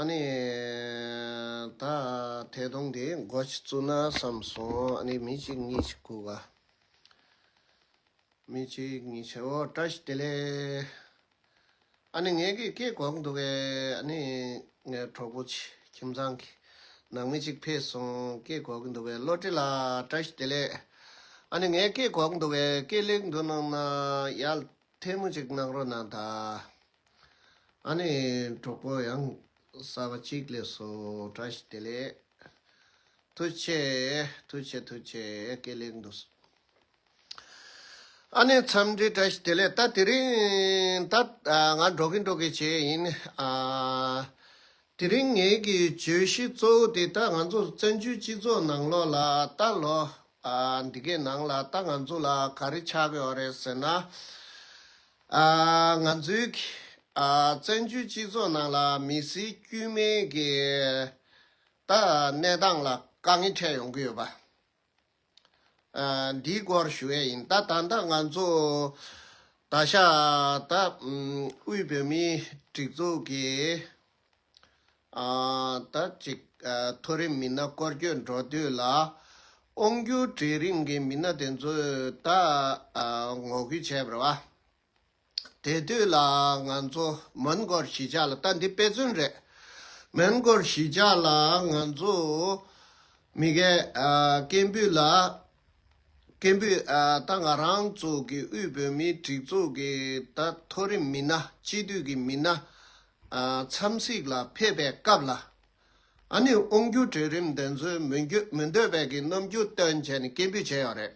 ཨ་ནི། ད་ཐད་གཏོང་དེ་འགོ་བཙུགས་ན་བསམ་སོང་ཨ་ནི་མི་གཅིག་གཉིས་ཆ་ཁུག་ག། མི་གཅིག་གཉིས་ཆ་འོ་བཀྲ་ཤིས་བདེ་ལེགས། ཨ་ནི་ངེད་ཀྱི་སྐད་གོག་འདུག་གས་ཨ་ནི། ངའི་གྲོགས་པོ་ཆེ་ཁྱིམ་ཚང་གི་ནང་མི་གཅིག་ཕེབས་སོང་སྐད་གོག་གི་འདུག་གས་བློ་བྲི་ལགས་བཀྲ་ཤིས་བདེ་ལེགས། ཨ་ནི་ངའི་སྐད་གོག་འདུག་གས་སྐད་ལེགས་འདུག་གནང་ན་ཡག་ཐལ་མོ་གཅིག་གནང་རོགས་གནང་ད། ཨ་ནི་གྲོགས་པོ་ཡང་གསར་པ་ཅིག་ལས་སོ་བཀྲ་ཤིས་བདེ་ལེགས། ཐུགས་ཆེ་ཐུགས་ཆེ་ཐུགས་ཆེ་དགེ་ལེགས་འདུག་གསུངས། ཨ་ནི་འཚམས་འདྲི་བཀྲ་ཤིས་བདེ་ལེགས་ད་དེ་རིང་ད་ང་འགྲོ་གིན་འགྲོ་གིན་བྱས་ཡིན། དེ་རིང་ངེད་ཀྱི་བརྗོད་གཞི་གཙོ་བོ་དེ་ད་ང་ཚོ་བཙན་བྱོལ་སྤྱི་ཚོགས་ནང་ལོགས་ལ་ད་ལོ་འདི་གའི་ནང་ལ་ད་ང་ཚོ་ལ་ག་རེ་ཆགས་ཡོད་རེད་ཟེར་ན། ང་ཚོའི་བཙན་བྱོལ་སྤྱི་ཚོགས་ནང་ལ་མི་སེར་དཀྱུས་མའི་གནས་སྟངས་ལ་དཀའ་ངལ་འཕྲད་ཡོང་གི་ཡོད་པ་འདིའི་སྐོར་ཞུ་ཡས་ཡིན། ད་ད་ལྟ་ང་ཚོ་ད་ཤ་ད་དབུས་བོད་མིའི་སྒྲིག་འཛུགས་ཀྱི། ད་ཅིག་མཐོ་རིམ་མི་སྣ་སྐོར་སྐྱོད་འགྲོ་དུས་ལ་དབང་སྒྱུར་གྲལ་རིམ་གྱི་མི་སྣ་དེ་ཚོས་ད་ངོ་རྒོལ་བྱས་པར་བ། དེ་དུས་ལ་ང་ཚོ་མོན་སྒོར་གཞིས་ཆགས་ལ་ད་འདི་དཔེ་མཚོན་རེད། མོན་སྒོར་གཞིས་ཆགས་ལ་ང་ཚོ་མི་འགས་སྐད་འབོད་ལ་སྐད་འབོད་ད་ང་རང་ཚོ་གི་དབུས་བོད་མིའི་སྒྲིག་འཛུགས་ཀྱི་ད་མཐོ་རིམ་མི་སྣ་སྤྱི་འཐུས་ཀྱི་མི་སྣ་འཚམས་གཟིགས་ལ་ཕེབས་པའི་སྐབས་ལ། ཨ་ནུས་དབང་སྒྱུར་གྲོས་རིམ་འདི་འཛུལ་མི་འདོད་པའི་གི་རྣམ་འགྱུར་སྟོན་བྱས་ནས་སྐད་འབོད་བྱས་ཡོད་རེད།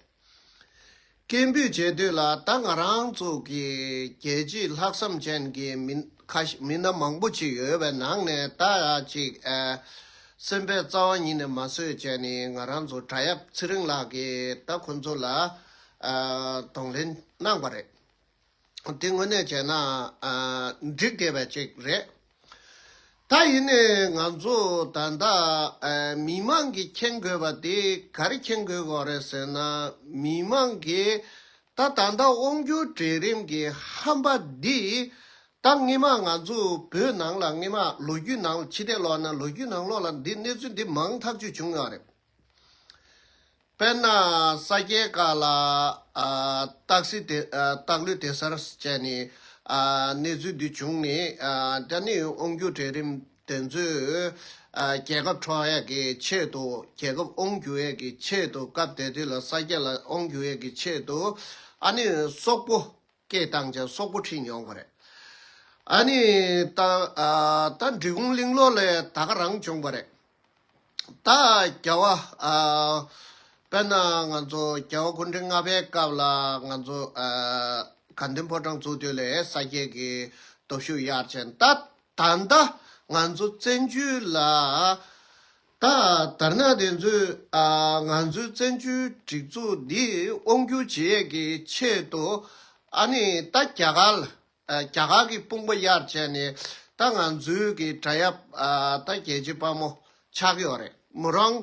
སྐད་འབོད་བྱེད་དུས་ལ་ད་ང་རང་ཚོ་གི་རྒྱལ་སྤྱིའི་ལྷག་བསམ་ཅན་གྱི་མི་སྣ་མང་པོ་ཅིག་ཡོད་པའི་ནང་ནས་ད་ཅིག་སེམས་པའི་རྩ་བ་ཉིད་ནས་མ་བཟོད་བྱས་ནས་ང་རང་ཚོ་གྲྭ་ཡབ་ཚེ་རིང་ལགས་ཀྱིས་ད་ཁོང་ཚོ་ལ་གདོང་ལེན་གནང་པ་རེད། དེ་དངོས་གནས་བྱས་ན་འགྲིག་བསྡད་པ་ཅིག་རེད། ད་ཡིན་ནས་ང་ཚོ་ད་ལྟ་མི་མང་གིས་མཁྱེན་དགོས་པ་དེ་ག་རེ་མཁྱེན་དགོས་གོ་རེད་ཟེར་ན་མི་མང་གིས་ད་ད་ལྟ་དབང་བསྒྱུར་གྲལ་རིམ་གྱི་ཧམ་པ་འདི་ད་སྔ་མ་ང་ཚོ་བོད་ནང་ལ་སྔ་མ་ལོ་རྒྱུས་ནང་ལ་ཕྱི་དེ་ལོག་ན་ལོ་རྒྱུས་ནང་ལོག་ལ་འདི་གནས་ཚུལ་འདི་མང་ཐག་ཆོད་བྱུང་ཡོད་རེད། དཔེར་ན་ས་སྐྱའི་བཀའ་ལ། སྟག་ལུས་དེ་སར་བཅད་ནས། གནས་ཚུལ་འདི་བྱུང་ནས། དེ་ནས་དབང་སྒྱུར་གྲལ་རིམ་དེ་ཚོས། རྒྱལ་ཁབ་འཕྲོག་ཡས་ཀྱི་ཆེད་དུ། རྒྱལ་ཁབ་དབང་སྒྱུར་ཡས་ཀྱི་ཆེད་དུ་སྐབས་དེ་དུས་ལ་ས་སྐྱ་ལ་དབང་སྒྱུར་ཡས་ཀྱི་ཆེད་དུ། ཨ་ནི་སོག་པོ་སྐད་བཏང་ཅིང་སོག་པོ་ཁྲིད་མྱོང་པ་རེད། ཨ་ནི། ད་འབྲི་གུང་གླིང་ལོག་ལས་ད་ག་རང་བྱུང་བ་རེད། ད་རྒྱལ་བ། དཔེར་ན་ང་ཚོ་རྒྱལ་བ་སྐུ་ཕྲེང་ལྔ་པའི་སྐབས་ལ་ང་ཚོ་དགའ་ལྡན་ཕོ་བྲང་བཙུགས་དུས་ལས་ས་སྐྱའི་གི་སྟོབས་ཤུགས་ཡར་ཕྱིན་ད་ད་ལྟ་ང་ཚོ་བཙན་བྱོལ་ལ། ད་དར་ནག་དེ་ཚོས་ང་ཚོའི་བཙན་བྱོལ་སྒྲིག་འཛུགས་འདི་དབང་སྒྱུར་བྱེད་ཡས་ཀྱི་ཆེད་དུ་ཨ་ནི་ད་རྒྱ་གར་ལ་རྒྱ་གར་གྱི་དཔུང་པ་གཡར་བྱས་ནས་ད་ང་ཚོའི་གི་བྲ་ཡབ་ད་རྒྱལ་སྤྱི་དཔའ་མོ་ཆགས་ཀྱི་ཡོད་རེད་མོ་རང།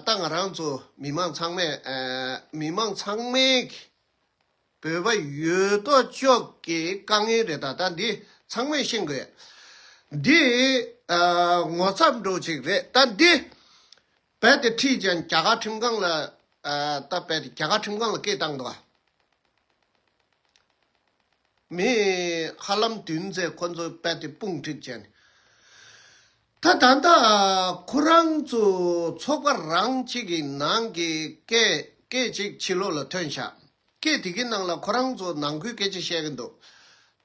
ད་ང་རང་ཚོ་མི་མང་ཚང་མས་མི་མང་ཚང་མས་གི་བོད་པ་ཡོད་དོ་ཅོག་གི་དཀའ་ངལ་རེད་ད་ད་འདི་ཚང་མས་ཤེས་དགོས། འདི་ངོ་ཚབ་འགྲོ་ཅིག་རེད་ད་འདི། རྦད་དེ་ཁྲིད་ཅན་རྒྱ་གར་ཁྲིམས་ཁང་ལ་བཏབ་རྦད་དེ་རྒྱ་གར་ཁྲིམས་ཁང་ལ་སྐད་བཏང་དོགས། མི་ཧ་ལམ་བདུན་བཙས་ཁོ་ཚོ་རྦད་དེ་དཔུང་ཁྲིད་ཅན། ད་ད་ད་ཁོ་རང་ཚོ་ཚོགས་པ་རང་གཅིག་གི་ནང་གི་སྐད་སྐད་ཅིག་ཕྱི་ལོག་ལ་ཐོན་ཤག། སྐད་དེ་གི་ནང་ལ་ཁོ་རང་ཚོ་ནང་ཁུལ་སྐད་ཆ་བཤད་གི་འདུག་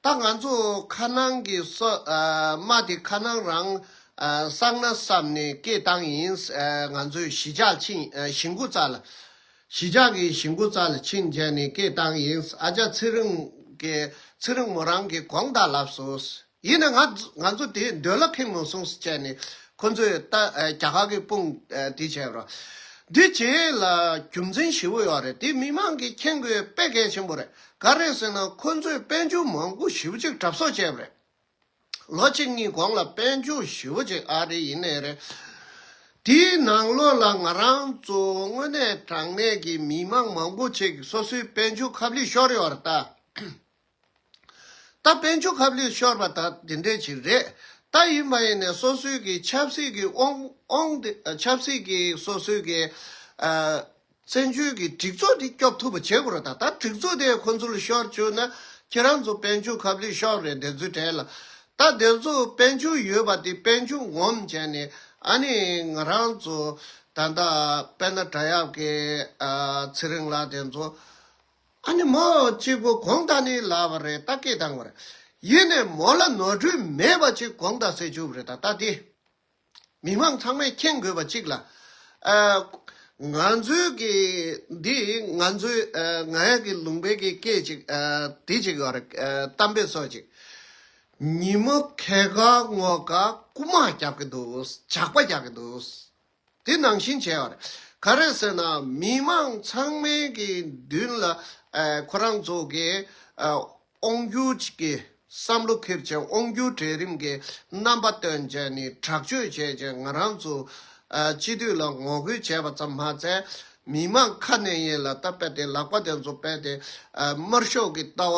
ད་ང་ཚོ་ཁ་ནང་གི་སོདྨ་དེ་ཁ་ནང་རང་བསགས་ན་བསམ་ནས་སྐད་བཏང་ཡིན་ང་ཚོས་གཞིས་ཆགས་ཕྱིན་གཞིས་མགོ་རྩ་ལ། གཞིས་ཆགས་ཀྱི་གཞིས་མགོ་རྩ་ལ་ཕྱིན་རྗེས་ནས་སྐད་བཏང་ཡིན་ཨ་ཅག་ཚེ་རིང་གི་ཚེ་རིང་མོ་རང་གི་གོང་ད་ལབ་སོང། ཡིན་ན་ང་ཚོ་དེའི་མདུན་ལ་ཕེབས་མི་སོང་ཟེར་ནས་ཁོ་ཚོས་རྒྱ་གར་གྱི་དཔུང་དེ་བྱས་པ་རེད། འདི་བྱས་ལ་རྒྱུ་མཚན་ཞི་བོ་ཡོད་རེད་དེ་མི་མང་གིས་མཁྱེན་དགོས་དཔེ་གལ་ཆེན་པོ་རེད་ག་རེད་ཟེར་ན་ཁོ་ཚོས་དཔལ་འབྱོར་མང་པོ་ཞིབ་གཅིག་གྲབས་གསོག་བྱས་པ་རེད། ལོ་གཅིག་གཉིས་གོང་ལ་དཔལ་འབྱོར་ཞི་བོ་གཅིག་ཨ་རི་ཡིན་ནས་རེད། དེའི་ནང་ལོགས་ལ་ང་རང་ཚོ་དངོས་གནས་དྲང་གནས་ཀྱི་མི་མང་མང་པོ་ཆེ་གིས་སོ་སོའི་དཔལ་འབྱོར་ཁབ་ལས་ཤོར་ཡོད་རེད་ད། ད་དཔལ་འབྱོར་ཁབ་ལེགས་ཤོར་བ་དག་དེ་འདྲའི་ཆེད་རེད། ད་ཡུལ་མ་ཡིན་ནས་སོ་སོའི་གི་ཆབ་སྲིད་གི་ཨོང་ཨོང་དེ་ཆབ་སྲིད་གི་སོ་སོའི་གི། བཙན་བྱོལ་གི་སྒྲིག་འཛུགས་དེ་སྐྱོབ་ཐུབ་པ་བྱེད་དགོས་རོགས་ད་ད་སྒྲིག་འཛུགས་དེ་ཁོ་ཚོ་ལ་ཤོར་བཅུག་ན་ཁྱེད་རང་ཚོ་དཔལ་འབྱོར་ཁབ་ལེགས་ཤོར་རེད་དེ་ཚོའི་གྲས་ལ། ད་དེ་ཚོ་དཔལ་འབྱོར་ཡོད་པ་དེ་དཔལ་འབྱོར་ངོམ་བྱས་ནས་ཨ་ནི་ང་རང་ཚོ་ད་ད་དཔལ་ན་བྲག་ཡབ་ཀྱི་ཚེ་རིང་ལགས་དེ་ཚོ། ཨ་ནི་མོ་གཅིག་པུ་གོང་ད་ནི་ལ་བ་རེད་ད་སྐད་དང་བར་ཡིན་ནས་མོ་ལ་ནོར་འཁྲུལ་མེད་པ་གཅིག་གོང་ད་སེ་ཆུབ་རེད་ད་ལྟ་དེ་མི་མང་ཚང་མས་མཁྱེན་དགོས་པ་གཅིག་ལ། ང་ཚོའི་གི་འདི་ང་ཚོའི་ང་ཡ་གི་ལུང་པའི་གི་སྐད་ཅིག་དེ་གཅིག་བར་གཏམ་དཔེ་སོགས་གཅིག་ཉིན་མོ་ཁལ་ཁ་ངོ་ཁ་རྐུ་མ་རྒྱག་གི་འདུག་ཇག་པ་རྒྱག་གི་འདུག་དེ་ནང་བཞིན་བྱས་པ་རེད། ག་རེ་ཟེར་ན་མི་མང་ཚང་མའི་གི་མདུན་ལ་ཁོ་རང་ཚོ་གི་དབང་སྒྱུར་གི་བསམ་བློ་ཁེར་ཅན་དབང་སྒྱུར་གྲལ་རིམ་གི་རྣམ་པ་སྟོན་བྱས་ནས་དྲག་སྤྱོད་བྱས་ཅིང་ང་རང་ཚོ་སྤྱི་འཐུས་ལ་ངོ་རྒོལ་བྱས་པ་ཙམ་མ་ཟད་མི་མང་ཁ་ནས་ཡན་ལ་ད་པད་དེ་ལག་པ་དེ་ཚོ་པད་དེ་དམར་ཤོག་གི་ལྟ་བ་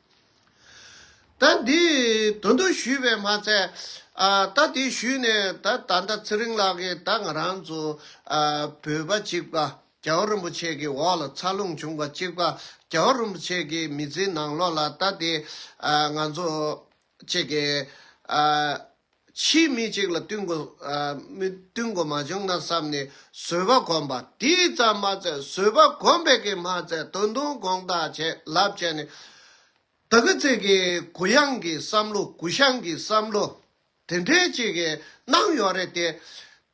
ད་འདི་དོན་དུ་ཞུས་པས་མ་ཚད། ད་དེ་ཞུས་ནས་ད་ད་ལྟ་ཚེ་རིང་ལགས་ཀྱིས་ད་ང་རང་ཚོ་བོད་པ་གཅིག་པ་རྒྱ་བོད་རིན་པོ་ཆེ་གི་འོག་ལ་འཚར་ལོངས་བྱུང་པ་གཅིག་པ་རྒྱ་བོད་རིན་པོ་ཆེ་གི་མི་ཚེའི་ནང་ལོགས་ལ་ད་དེ་ང་ཚོ་གཅིག་གི་ཕྱིས་མི་གཅིག་ལ་བསྟུན་དགོས་མ་བྱུང་ན་བསམ་ནས་བཟོད་པ་གོམས་པ་དེས་ཙམ་མ་ཟད་བཟོད་པ་གོམས་པས་ཀྱང་མ་ཚད་དོན་དུ་དགོངས་དག་བྱས་ལབ་བྱས་ནས། ད་གི་ཚིག་གིས་གུ་ཡངས་ཀྱི་བསམ་བློ་གུ་ཤངས་ཀྱི་བསམ་བློ་དེ་འདྲའི་ཅིག་གནང་ཡོད་རེད་དེ།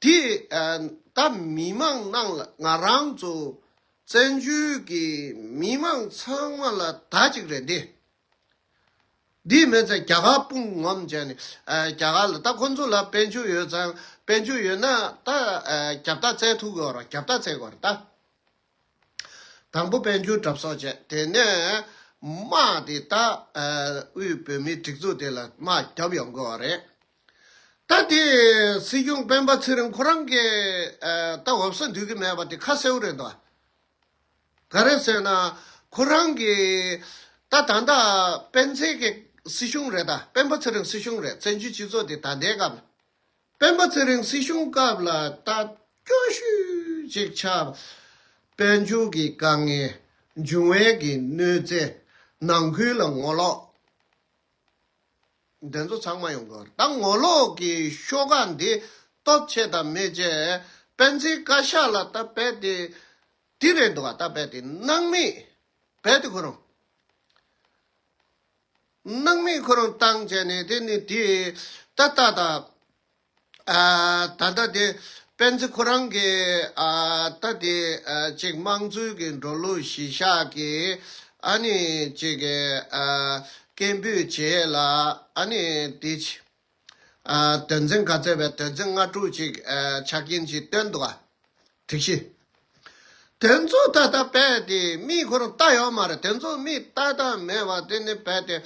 དེས་ད་མི་མང་རྣམས་ལ་ང་རང་ཚོ་བཙན་བྱོལ་གྱི་མི་མང་ཚང་མ་ལ་ད་ཅིག་རེད་འདི། དེའི་མེད་ཚེ་རྒྱ་གར་དཔུང་ངོམ་བྱས་ནས་རྒྱ་གར་ལ་ད་ཁོ་ཚོ་ལ་དཔལ་འབྱོར་ཡོད་ཙང་དཔལ་འབྱོར་ཡོད་ན་ད་རྒྱབ་རྟགས་བཙལ་ཐུབ་དགོས་རོགས་རྒྱབ་རྟགས་བཙལ་དགོས་རེད་ད། དང་པོ་དཔལ་འབྱོར་གྲབས་གསོག་བྱས་དེ་ནས་དམག་དེ་ད་དབུས་བོད་མིའི་སྒྲིག་འཛུགས་དེ་ལ་དམག་རྒྱབ་ཡོང་དགོས་རེད་ད། དེ་སྲིད་སྐྱོང་སྤེན་པ་ཚེ་རིང་ཁོ་རང་གི་ད་འོབས་ས་འདུས་གི་མེད་པ་དེ་ཁ་གསལ་བོ་རེད་འདུག་ཨ། ག་རེ་ཟེར་ན་ཁོ་རང་གིས་ད་ད་ལྟ་སྤེན་ཚེ་གི་སྲིད་གཞུང་རེད་ད་སྤེན་པ་ཚེ་རིང་སྲིད་གཞུང་རེད་བཙན་བྱོལ་སྤྱི་ཚོགས་འདི་ད་ལྟའི་སྐབས་ལ་སྤེན་པ་ཚེ་རིང་སྲིད་གཞུང་སྐབས་ལ་ད་སྐྱོ་ཤུལ་ཅིག་ཆགས་པས་མཇུག་གི་དཀའ་ངལ་འབྱུང་བས་གི་གནོད་འཚེ་ནང་ཁུལ་ལ་ངོ་ལོག་འདི་ཚོ་ཚང་མ་ཡོང་གི་རེད་ད་ངོ་ལོག་གི་ཤོག་ཁག་འདི་སྟོབས་ཆེ་དང་མེད་ཅེས་སྤེན་ཚེའི་བཀའ་ཤག་ལ་ད་རྦད་དེ་དེ་རེད་འདུག་ད་རྦད་དེ་སྣང་མེད་རྦད་དེ་ཁོ་རང། སྣང་མེད་ཁོ་རང་བཏང་བྱས་ནས་དེ་ནི་དེ་ད་ལྟ་ད། ད་ལྟ་དེ་སྤེན་ཚེ་ཁོ་རང་གི་ད་དེ་ཅིག་དམངས་གཙོའི་གི་འགྲོ་ལུགས་གཞི་བཞག་གི་ཨ་ནི་ཅིག་གི་སྐད་འབོད་བྱས་ལ་ཨ་ནི་དེ། དོན་ཚན་ག་ཚད་པའི་དོན་ཚན་ལྔ་དྲུག་ཅིག་ཆ་རྐྱེན་གྱིས་བཏོན་འདུག་ག། དྲུག་བཞི། དོན་ཚོགས་ད་ལྟ་རྦད་དེ་མིའི་ཁོ་རང་ལྟ་ཡོད་མ་རེད་དོན་ཚོགས་མིས་ལྟ་ལྟ་མེད་པ་དེ་ནི་རྦད་དེ་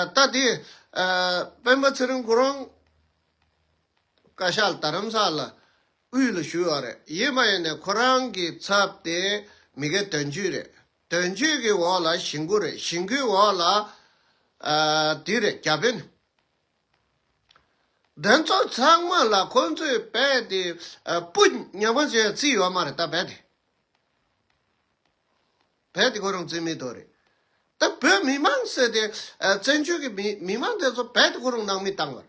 ལྟ་དེ། སྤེན་པ་ཚེ་རིང་ཁོ་རང་བཀའ་ཤག་ལ་དར་རམ་ས་ལ་དབུས་ལ་ཞུས་ཡོད་རེད་ཡིན་མ་ཡིན་ནས་ཁོ་རང་གི་ཚབ་དེ་མི་དགེ་དོན་བརྒྱུད་རེད། དོན་གཅོད་ཀྱི་འོག་ལ་ཞིང་ཁུ་རེད་ཞིང་ཁུའི་འོག་ལ་དུས་རེད་རྒྱ་དཔོན། དོན་གཙོ་ཚང་མ་ལ་ཁོ་ཚོས་རྦད་དེ་སྤུ་ཉག་མ་ཅན་བརྩིས་ཡོད་མ་རེད་ད་རྦད་དེ། རྦད་དེ་ཁོ་རང་བརྩིས་མེད་དོ་རེད། ད་བོད་མི་མང་ཟེར་དེ་བཙན་བྱོལ་གྱི་མི་མང་དེ་ཚོ་རྦད་དེ་ཁོ་རང་ནང་མི་བཏང་བར་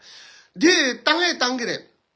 འདི་བཏང་ཨེ་བཏང་གི་རེད།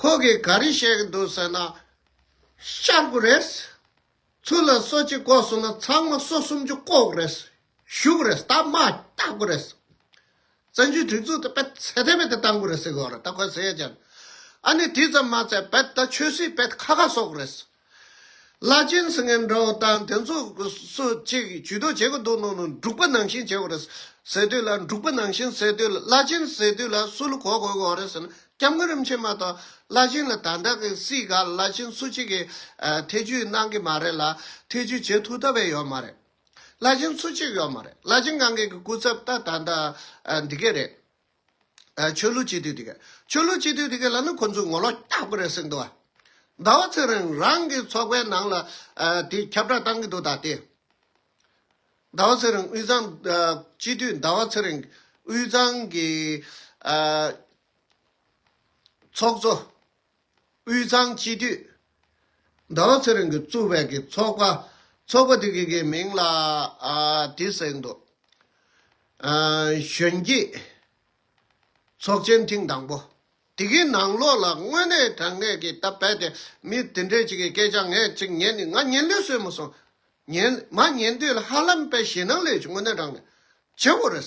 ཁོ་གིས་ག་རེ་བཤད་གི་འདུག་ཟེར་ན། ཤར་དགོས་རེད། ཚུར་ལ་སོ་གཅིག་བཀོག་སོང་ན་ཚང་མ་སོ་སུམ་ཅུ་བཀོག་རེད། བཞུགས་དགོས་རེད་སྟབས་མ་རྟག་དགོས་རེད། བཙན་བྱོལ་སྒྲིག་འཛུགས་དེ་དཔེ་ཚད་དེ་བས་དེ་བཏང་དགོས་རེད་ཟེར་གི་འོག་རེད་ད་ཁོས་ཟེར་ཡས་ཀྱང། ཨ་ནི་དེ་ཙམ་མ་ཚད་བས་ད་ཆོས་སྲིད་བས་དེ་ཁ་ཁ་གསོག་དགོས་རེད། བླ་ཆེན་སི་ངན་འདྲ་བོ་དང་དེ་ཚོ་སུ་གཅིག་ཇུས་གཏོགས་བྱེད་དགོས་འདུག་ནོ་ནོ་འབྲུག་པ་ནང་བཞིན་བྱེད་དགོས་རེད་ཟེར་དུས་ལ་འབྲུག་པ་ནང་བཞིན་ཟེར་དུས་ལ་བླ་ཆེན་ཟེར་དུས་ལ་སུ་ལ་གོ་དགོས་དགོས་རེད་ཟེར་ན་སྐྱབས་མགོན་རིན་པོ་ཆེ་མ་གཏོགས་བླ་ཆེན་ལ་ད་ལྟ་གི་སྲིད་ག་ལ་ཆེན་སུ་གཅིག་གིས་ཐེ་ཇུས་གནང་གི་མ་རེད་ལ་ཐེ་ཇུས་བྱེད་ཐུབ་ཐབས་བས་ཡོད་མ་རེད། བླ་ཆེན་སུ་གཅིག་ཡོད་མ་རེད་བླ་ཆེན་གང་གི་གི་སྐུ་ཚབ་ད་ད་ལྟ་འདི་གས་རེད། ཆོས་ལུགས་སྤྱི་འཐུས་དེ་གས། ཆོས་ལུགས་སྤྱི་འཐུས་དེ་གས་ལ་ནི་ཁོ་ཚོས་ངོ་ལོག་རྐྱག་པ་རེད་སེམས་འདུག་ཨ། ཟླ་བ་ཚེ་རིང་རང་གི་ཚོགས་པའི་ནང་ལ་དེ་ཁྱབ་བསྒྲགས་བཏང་གི་འདུག་ད་ལྟའི། ཟླ་བ་ཚེ་རིང་དབུས་གཙང་སྤྱི་འཐུས་ཟླ་བ་ཚེ་རིང་དབུས་གཙང་གི་ཚོགས་གཙོ། དབུས་གཙང་སྤྱི་འཐུས་ཟླ་བ་ཚེ་རིང་གིས་བཙུགས་པའི་གི་ཚོགས་པ། ཚོགས་པ་དེ་གི་གི་མིང་ལ་དེ་གཟེངས་འདུག། གཞོན་སྐྱེས་ཚོགས་ཆེན་ཐེངས་དང་པོ། དེ་གི་ནང་ལོགས་ལ་དངོས་གནས་དྲང་གནས་གི་ད་བལ་དེ་མི་དེ་འདྲས་ཅིག་གི་སྐད་ཆ་ངས་ཅིག་ཉན་ནི་ང་ཉན་ལོས་སོས་མ་སོང། ཉན་མ་ཉན་དུས་ལ་ཧ་ལམ་བལ་ཞེ་ནང་ལོས་ཀྱི་དངོས་གནས་དྲང་གནས་ཆེན་པོ་རེད།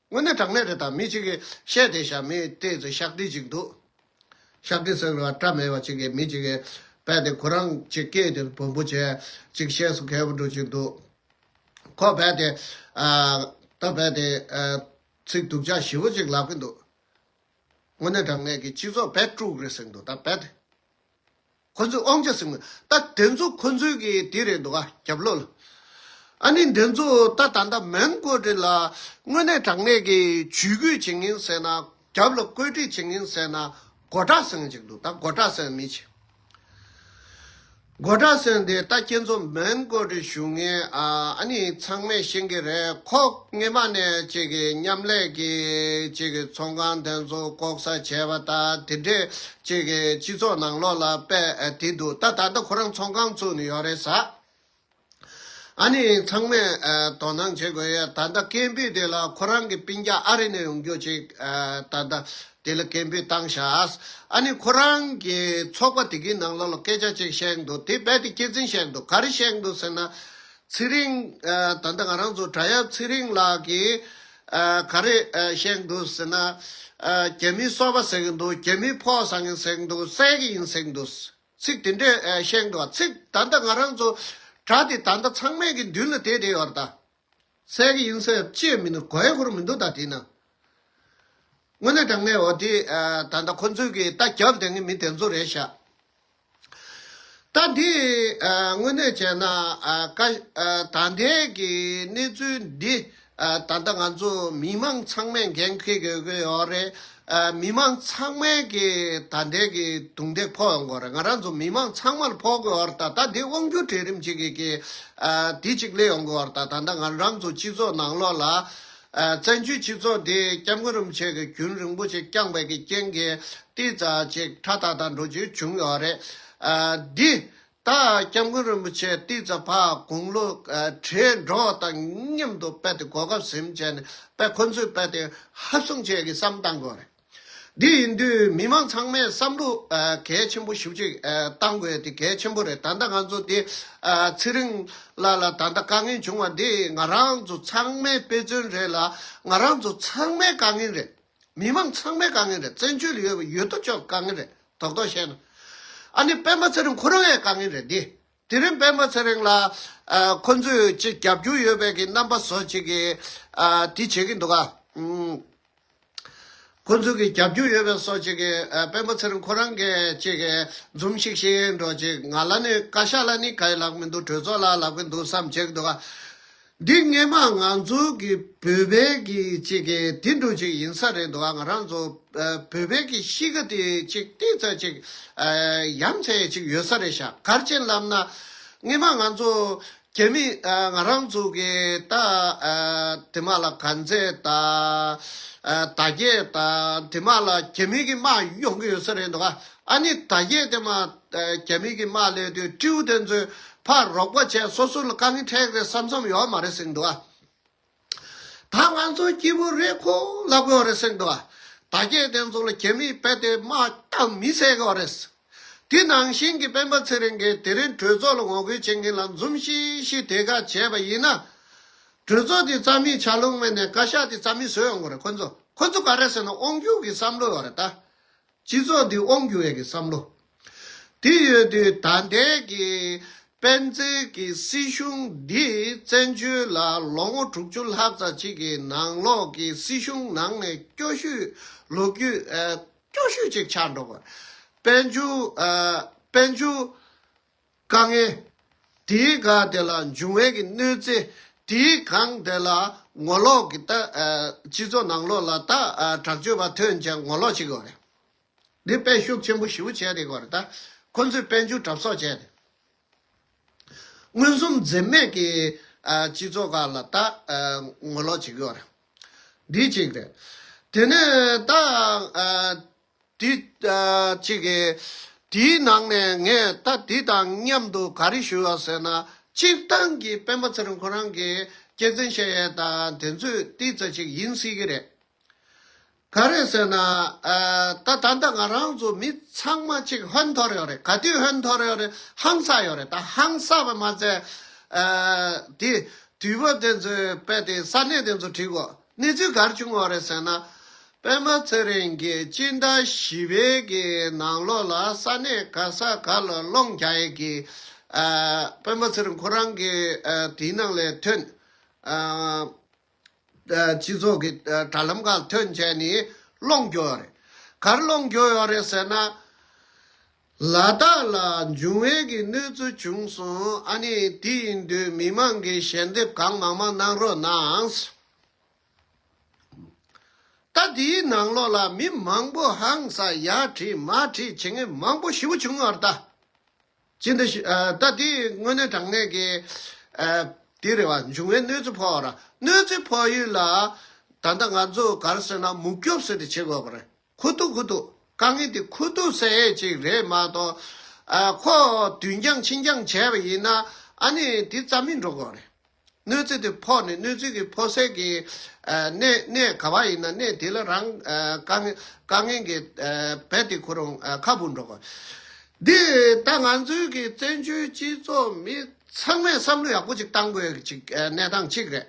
དངོས་གནས་དྲང་གནས་རེད་ད་མི་གཅིག་གིས་བཤད་དེ་ཞྭ་མི་ལྟས་ཚོས་ཤག་དྲིལ་ཅིག་འདུག་ཤག་དྲིལ་ཟེར་བ་སྐྲ་མེད་པ་ཅིག་གིས་མི་གཅིག་གིས་བལྟས་དེ་ཁོ་རང་ཅིག་སྐད་དེ་བོན་པོ་ཆེ་ཅིག་གཤེགས་སུ་གལ་བོ་འགྲོ་ཅིག་འདུག་ཁོ་བལྟས་དེ། ད་བལྟས་དེ། ཚིག་སྡུག་ཅག་ཞི་བོ་ཅིག་ལབ་གི་འདུག་དངོས་གནས་དྲང་གནས་ཀྱི་སྤྱི་ཚོགས་བལ་དཀྲུགས་རེད་ཟེར་གི་འདུག་ད་བལྟས་དེ། ཁོ་ཚོས་ཨོང་ཅེ་སི་ངོ། ད་དེ་ཚོ་ཁོ་ཚོའི་གི་དེ་རེད་འདུག་ཨ་རྒྱབ་ལོག་ལ། ཨ་ནི་དེ་ཚོ་ད་ད་ལྟ་མོན་གྷོ་རི་ལ་དངོས་གནས་དྲང་གནས་གི་ཇུས་འགོད་བྱེད་ངེས་ཟེར་ན་རྒྱབ་ལ་བཀོད་སྒྲིག་བྱེད་ངེས་ཟེར་ན་མགོ་གྲགས་སོན་ཅིག་འདུག་ད་མགོ་གྲགས་སོན་མི་བྱེད། མགོ་གྲགས་སོན་དེ་ད་ཁྱེད་ཚོ་མོན་གྷོ་རི་བཞུགས་ངེས་ཨ་ཨ་ནི་ཚང་མས་ཤེས་གི་རེད་ཁོག་སྔེ་མ་ནས་བཅས་གི་མཉམ་ལས་གི་བཅས་གི་ཚོང་ཁང་དེ་ཚོ་ལྐོག་ཟ་བྱས་པ་ད་དེ་འདྲས་ཅིག་གིས་སྤྱི་ཚོགས་ནང་ལོགས་ལ་པད་དེ་འདུག་ད་ད་ལྟ་ཁོ་རང་ཚོང་ཁང་བཙུགས་ནས་ཡོད་རེད་ས་ཨ་ནི་ཚང་མས་དོ་སྣང་བྱེད་དགོས་ཡོད་ད་ལྟ་སྐད་འབོད་དེ་ལ་ཁོ་རང་གི་སྤིན་རྒྱ་ཨ་རི་ནས་ཡོང་རྒྱུ་ཅིག་ད་ལྟ་དེ་ལ་སྐད་འབོད་བཏང་ཞགས་ཨ་ནི་ཁོ་རང་གི་ཚོགས་པ་དེ་གི་ནང་ལོགས་ལ་སྐད་ཆ་ཅིག་བཤད་འདུག་དེ་པད་དེ་སྐྱེད་ཚིན་བཤད་འདུག་ག་རེ་བཤད་འདུག་ཟེར་ན་ཚེ་རིང་ད་ལྟ་ང་རང་ཚོ་བྲག་གཡབ་ཚེ་རིང་ལགས་ཀྱིས། ག་རེ་བཤད་འདུག་ཟེར་ན། རྒྱ་མིའི་སོ་པ་ཟེར་གྱི་འདུག་རྒྱ་མིའི་ཕོག་བཟང་ཡིན་ཟེར་གྱི་འདུག་བསད་ཀྱི་ཡིན་ཟེར་གྱི་འདུག་ཚིག་དེ་འདྲས་བཤད་འདུག་བ་ཚིག་ད་ལྟ་ང་རང་ཚོ་དྲ་དེ་ད་ལྟ་ཚང་མས་ཀྱི་མདུན་ལ་བལྟས་བསྡད་ཡོད་རེད་ད། བསད་ཀྱི་ཡིན་ཟེར་ཅེས་མིན་འདུག་གོ་ཧེ་ཧུར་མིན་འདུག་ད་དེ་ན། དངོས་གནས་དྲང་གནས་འོ་དེ་ད་ལྟ་ཁོ་ཚོས་ཀྱི་ལྟ་རྒྱབ་བསྡད་ངན་མི་དེ་ཚོ་རེད་ཤག། ད་འདིས་དངོས་གནས་བྱས་ན། ད་ལྟའི་གི་གནས་ཚུལ་འདི། ད་ལྟ་ང་ཚོ་མི་མང་ཚང་མས་འགན་འཁུར་དགོས་ཀྱི་ཡོད་རེད། མི་མང་ཚང་མས་ཀྱི་ད་ལྟའི་གི་རྡུང་རྡེག་ཕོག་ཡོང་དགོས་རེད། ང་རང་ཚོ་མི་མང་ཚང་མར་ཕོག་དགོས་ཡོད་རེད། ད་ལྟ་འདི་དབང་སྒྱུར་གྲལ་རིམ་གཅིག་གི་གི་དེ་གཅིག་སླེབས་ཡོང་དགོས་ཡོད་རེད། ད་ལྟ་ང་རང་ཚོ་སྤྱི་ཚོགས་ནང་ལོགས་ལ། བཙན་བྱོལ་སྤྱི་ཚོགས་འདི་སྐྱབས་མགོན་རིན་པོ་ཆེ་གི་རྒྱུན་རིང་པོ་ཆེ་བསྐྱངས་པའི་གི་རྐྱེན་གྱིས་ཏིལ་རྩ་ཅིག་ཁྲ་ཐག་ཐག་འགྲོ་རྒྱུ་བྱུང་ཡོད་རེད། འདི་ལྟར་སྐྱབས་མགོན་རིན་པོ་ཆེ་ཏིལ་རྩ་ཕ་དགུང་ལོ་བགྲེས་འགྲོགས་དང་མཉམ་དུ་དཔལ་ཏེ་གོ་སྐབས་གཟིམ་བྱས་ནས་དཔལ་ཁོ་ཚོའི་དཔལ་ཏེ་ཧབ་བཟུང་བྱས་གི་བསམ་བཏང་དགོས་རེད། དེ་ཡིན་དུས་མི་མང་ཚང་མས་བསམ་བློ་གལ་ཆེན་པོ་ཞིབ་ཅིག་བཏང་དགོས་དེ་གལ་ཆེན་པོ་རེད་ད་ལྟ་ང་ཚོ་དེ་ཚེ་རིང་ལགས་ལ་ད་ལྟ་དཀའ་ངལ་བྱུང་བ་འདི་ང་རང་ཚོ་ཚང་མའི་དཔེ་མཚོན་རེད་ལ་ང་རང་ཚོ་ཚང་མའི་དཀའ་ངལ་རེད་མི་མང་ཚང་མའི་དཀའ་ངལ་རེད་བཙན་བྱོལ་ཡོད་ཡོད་དོ་ཅོག་གི་དཀའ་ངལ་རེད་དོག་དོག་བཤད་ན་ཨ་ནི་སྤེན་པ་ཚེ་རིང་ཁོ་རང་ཡའི་དཀའ་ངལ་རེད་འདི། དེ་རིང་པད་མ་ཚེ་རིང་ལ་ཁོ་ཚོས་ཅི་བརྒྱབ་རྒྱུ་ཡོད་པའི་གི་རྣམ་པ་བཟོ་བྱེད་ཀྱི་དེ་བྱེད་ཀྱི་འདུག་ག། ཁོ་ཚོས་གི་བརྒྱབ་རྒྱུ་ཡོད་པའི་སོགས་བྱེད་ཀྱི་པད་མ་ཚེ་རིང་ཁོ་རང་གི་ཅི་གི་འཛུམ་ཤིག་ཤིག་འགྲོ་ཅིག་ང་ལ་ནི་བཀའ་ཤག་ལ་ནི་ག་ཡི་ལག་མི་འདུག་གྲོས་ཚོགས་ལ་ལག་གི་འདུག་བསམ་བྱེད་ཀྱི་འདུག་ག། འདི་སྔས་མ་ང་ཚོ་གི་བོད་པའི་གི་ཅིག་གི་དེ་འདྲུ་ཅིག་ཡིན་ས་རེད་འདུག་ང་རང་ཚོ་བོད་པའི་གི་གཤིས་ཀ་དེ་ཅིག་ཏིག་ཚ་ཅིག་ཡམ་ཚའི་ཅིག་ཡོད་ས་རེད་ཤག་གར་ཅན་ལབ་ན་སྔས་མ་ང་ཚོ་རྒྱ་མི་ང་རང་ཚོ་གི་ད་དེ་མ་ལ་གར་མཛད་ད་ད་རྒྱལ་ད་དེ་མ་ལ་རྒྱ་མི་གི་མ་ཡོང་གི་ཡོད་ས་རེད་འདུག་ཨ་ནི་ད་གཞས་དེ་མ་རྒྱ་མི་གི་དམག་སླེབས་དུས་སྤྲེའུ་དེ་ཚོས་ཕར་རོགས་པ་བྱས་སོ་སོ་ལ་དཀའ་ངལ་འཕྲད་རེད་བསམ་བསམ་ཡོད་མ་རེད་གསེང་འདུག་ད་ང་ཚོ་སྐྱིད་པོ་རེད་ཁོ་ལབ་གི་ཡོད་རེད་གསེང་འདུག་ད་གཞས་དེ་ཚོ་ལ་རྒྱ་མི་དཔེ་དེ་དམག་རྐྱང་མི་བསད་གི་ཡོད་རེད། དེ་ནང་བཞིན་གི་སྤེན་པ་ཚེ་རིང་གིས་དེ་རིང་གྲོས་ཚོགས་ལ་ངོ་རྒོལ་བྱེད་མཁན་ལ་འཛུམ་ཤིག་ཤིག་དེ་ག་བྱས་པ་ཡིན་ན། གྲོས་ཚོགས་དེ་རྩ་མེད་བྱ་ལུགས་མེད་ནས་བཀའ་ཤག་དེ་རྩ་མེད་བཟོས་ཡོང་གི་རེད་ཁོ་ཚོ་ཁོ་ཚོ་ག་རེ་ཟེར་ན་དབང་སྒྱུར་གི་བསམ་བློ་ཡོད་རེད་ད། སྤྱི་ཚོགས་འདི་དབང་བསྒྱུར་བའི་གི་བསམ་བློ་དེ་ཡོད་དུས་ད་ལྟའི་གི་སྤེན་ཚེ་གི་སྲིད་གཞུང་འདི་བཙན་བྱོལ་ལ་ལོ་ངོ་དྲུག་ཅུ་ལྷག་ཙ་གཅིག་གི་ནང་ལོག་གི་སྲིད་གཞུང་ནང་ནས་སྐྱོ་བཤུས་ལོ་རྒྱུས་སྐྱོ་བཤུས་ཅིག་ཆགས་འགྲོ་དཔལ་འབྱོར་དཔལ་འབྱོར་དཀའ་ངལ། དེའི་སྒ་དེ་ལ་འབྱུང་བས་ཀྱི་གནོད་འཚེ། དེའི་གང་དེ་ལ་ངོ་ལོག་གི་ལྟ། སྤྱི་ཚོགས་ནང་ལོག་ལ་ལྟ་དྲག་སྤྱོད་པ་ཐོན་ཅིང་ངོ་ལོག་བྱེད་དགོས་པ་རེད། འདི་དཔེ་ཤུགས་ཆེན་པོ་ཞི་བོ་བྱས་ཏེ་གོ་རེ་ད། ཁོ་ཚོས་དཔལ་འབྱོར་གྲབས་གསོག་བྱས་ཏེ། མངོན་སུམ་འཛེམ་མེད་ཀྱི་སྤྱི་ཚོགས་ག་ལ་ལྟ་ངོ་ལོག་བྱེད་དགོས་པ་རེད། འདི་གཅིག་རེད། དེ་ནས་ད། དུས་གཅིག་གི། དེའི་ནང་ནས་ངས་ད་དུས་དང་མཉམ་དུ་ག་རེ་ཞུ་བ་ཟེར་ན། སྤྱིར་བཏང་གི་སྤེན་པ་ཚེ་རིང་ཁོ་རང་གི་སྐྱེ་ཚན་བཤད་ཡས་དང་དེ་ཚོས་བལྟས་ཚ་ཞིག་ཡིན་སྲིད་ཀྱི་རེད། ག་རེ་ཟེར་ན། ད་ད་ལྟ་ང་རང་ཚོ་མི་ཚང་མ་གཅིག་ཧོན་འཐོར་ཡོད་རེད་ག་དུས་ཧོན་འཐོར་ཡོད་རེད་ཧང་སངས་ཡོད་རེད་ད་ཧང་སངས་པ་མ་ཚད། དེ་དུས་བོད་དེ་ཚོའི་དཔེ་དེ་ས་གནས་དེ་ཚོ་བྲིས་གོ། གནས་ཚུལ་གར་བྱུང་བ་རེད་ཟེར་ན། པདྨ་ཚེ་རིང་གིས་སྤྱི་ཟླ་བཞི་པའི་གི་ནང་ལོགས་ལ་ས་གནས་ག་ས་ག་ལ་སློང་རྒྱ་ཡས་ཀྱི་པདྨ་ཚེ་རིང་ཁོ་རང་གི་དེའི་ནང་ལས་ཐོན། སྤྱི་ཚོགས་ཀྱི་དྲ་ལམ་ཁག་ལ་ཐོན་བྱས་ནས་སློང་རྒྱོ་ཡོད་རེད། གར་སློང་རྒྱོ་ཡོད་རེད་ཟེར་ན། ལ་དྭགས་ལ་འབྱུང་བའི་གི་གནོད་འཚེ་བྱུང་སོང་ཨ་ནི་དེ་ཡིན་དུས་མི་མང་གིས་ཞལ་འདེབས་གང་མང་མང་གནང་རོགས་གནང། ད་དེའི་ནང་ལོགས་ལ་མི་མང་པོ་ཧང་ས་ཡ་བྲིས་མ་བྲིས་བྱེད་མཁན་མང་པོ་ཞི་བོ་བྱུང་བར་ད་ཅི་འདི་ད་དེ་དངོས་གནས་དྲང་གནས་ཀྱི་དེ་རེད་བ་འབྱུང་བའི་གནོད་འཚེ་ཕོག་ར་གནོད་འཚེ་ཕོག་ཡུལ་ལ་ད་ད་ང་ཚོ་གར་སོན་ན་མུག་སྐྱོབ་སོད་དེ་བྱེད་དགོས་པ་རེད། ཁུ་ཐུག་ཁུ་ཐུག་དཀའ་ངལ་དེ་ཁུ་ཐུག་ཟེར་ཡས་ཅིག་རེད་མ་གཏོགས། ཁོ་དུས་འགྱངས་ཕྱི་འགྱངས་བྱས་པ་ཡིན་ན་ཨ་ནི་དེ་རྩ་མེད་འགྲོ་དགོས་རེད། གནོད་འཚེ་དེ་ཕོག་ནས་གནོད་འཚེ་གི་ཕོག་སའི་གི་གནས་ག་བ་ཡིན་ན་གནས་དེ་ལ་རང་དཀའ་ངལ་གི་བད་དེ་ཁུར་རུང་ཁ་འབུ་འགྲོ་དགོས། འདི་ད་ང་ཚོའི་གི་བཙན་བྱོལ་སྤྱི་ཚོགས་མི་ཚང་མས་བསམ་བློ་ཡག་པོ་ཅིག་གཏང་དགོས་ཅིག་གནས་སྟངས་གཅིག་རེད།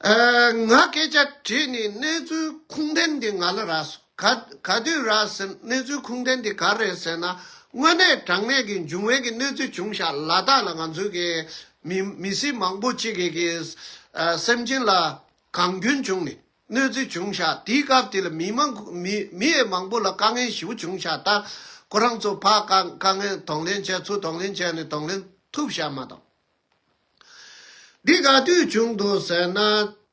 ང་སྐད་ཆ་དྲིས་ནས་གནས་ཚུལ་ཁུངས་ལྡན་དེ་ང་ལ་རགས་སོ། ག་ག་དུས་རགས་ཟེར་གནས་ཚུལ་ཁུངས་ལྡན་དེ་ག་རེད་ཟེར་ན་དངོས་གནས་དྲང་གནས་ཀྱི་འབྱུང་བའི་གི་གནས་ཚུལ་བྱུང་ཞག་ལ་དག་ལ་ང་ཚོའི་གི་མི་མི་སེར་མང་པོ་གཅིག་གི་གི་སེམས་ཅན་ལ་གང་སྐྱོན་བྱུང་ནས་གནོད་འཚེ་བྱུང་ཞག་དེའི་སྐབས་དེ་ལ་མི་མང་མི་མི་ཡས་མང་པོ་ལ་དཀའ་ངལ་ཞི་བོ་བྱུང་ཞག་ད་ཁོ་རང་ཚོ་ཕ་དཀའ་དཀའ་ངལ་དང་ལེན་བྱས་ཚུལ་དང་ལེན་བྱས་ནས་དང་ལེན་ཐུབ་ཞག་མ་དང། འདི་ག་དུས་བྱུང་དུ་ཟེར་ན།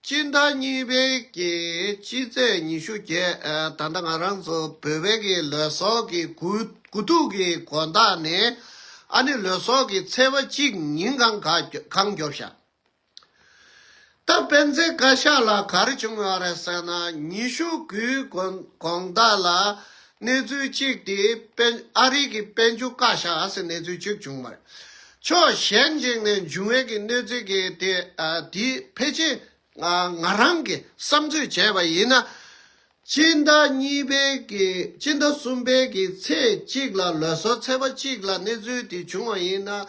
སྤྱི་ཟླ་གཉིས་པའི་ཀྱི་སྤྱི་ཚེས་ཉི་ཤུ་བརྒྱད་ད་ལྟ་ང་རང་ཚོ་བོད་པའི་ཀྱི་ལོད་སོགས་ཀྱི་དགུ་དགུ་ཐུག་གི་གོ་ཟླ་ནས་ཨ་ནི་ལོད་སོགས་ཀྱི་ཚེས་པ་གཅིག་ཉིན་གང་གང་རྒྱོབ་བཞག། ད་སྤེན་ཚེ་བཀའ་ཤག་ལ་གར་བྱུང་བ་རེད་ཟེར་ན་ཉི་ཤུ་དགུའི་གོང་བདག་ལ་གནས་ཚུལ་གཅིག་དེ་སྤེན་ཨ་རི་གི་སྤེན་ཆུ་བཀའ་ཤག་ཨ་སི་གནས་ཚུལ་གཅིག་བྱུང་བ་རེད། ཕྱོགས་གཞན་གཅིག་ནས་འབྱུང་བའི་གི་གནོད་འཚེ་གི་དེ་དེ་ཕལ་ཆེར་ང་རང་གི་བསམ་ཚོད་བྱས་པ་ཡིན་ན། སྤྱི་ཟླ་གཉིས་པའི་གི་སྤྱི་ཟླ་གསུམ་པའི་གི་ཚེས་གཅིག་ལ་ལོ་སར་ཚེས་པ་གཅིག་ལ་གནས་ཚུལ་དེ་བྱུང་བ་ཡིན་ན།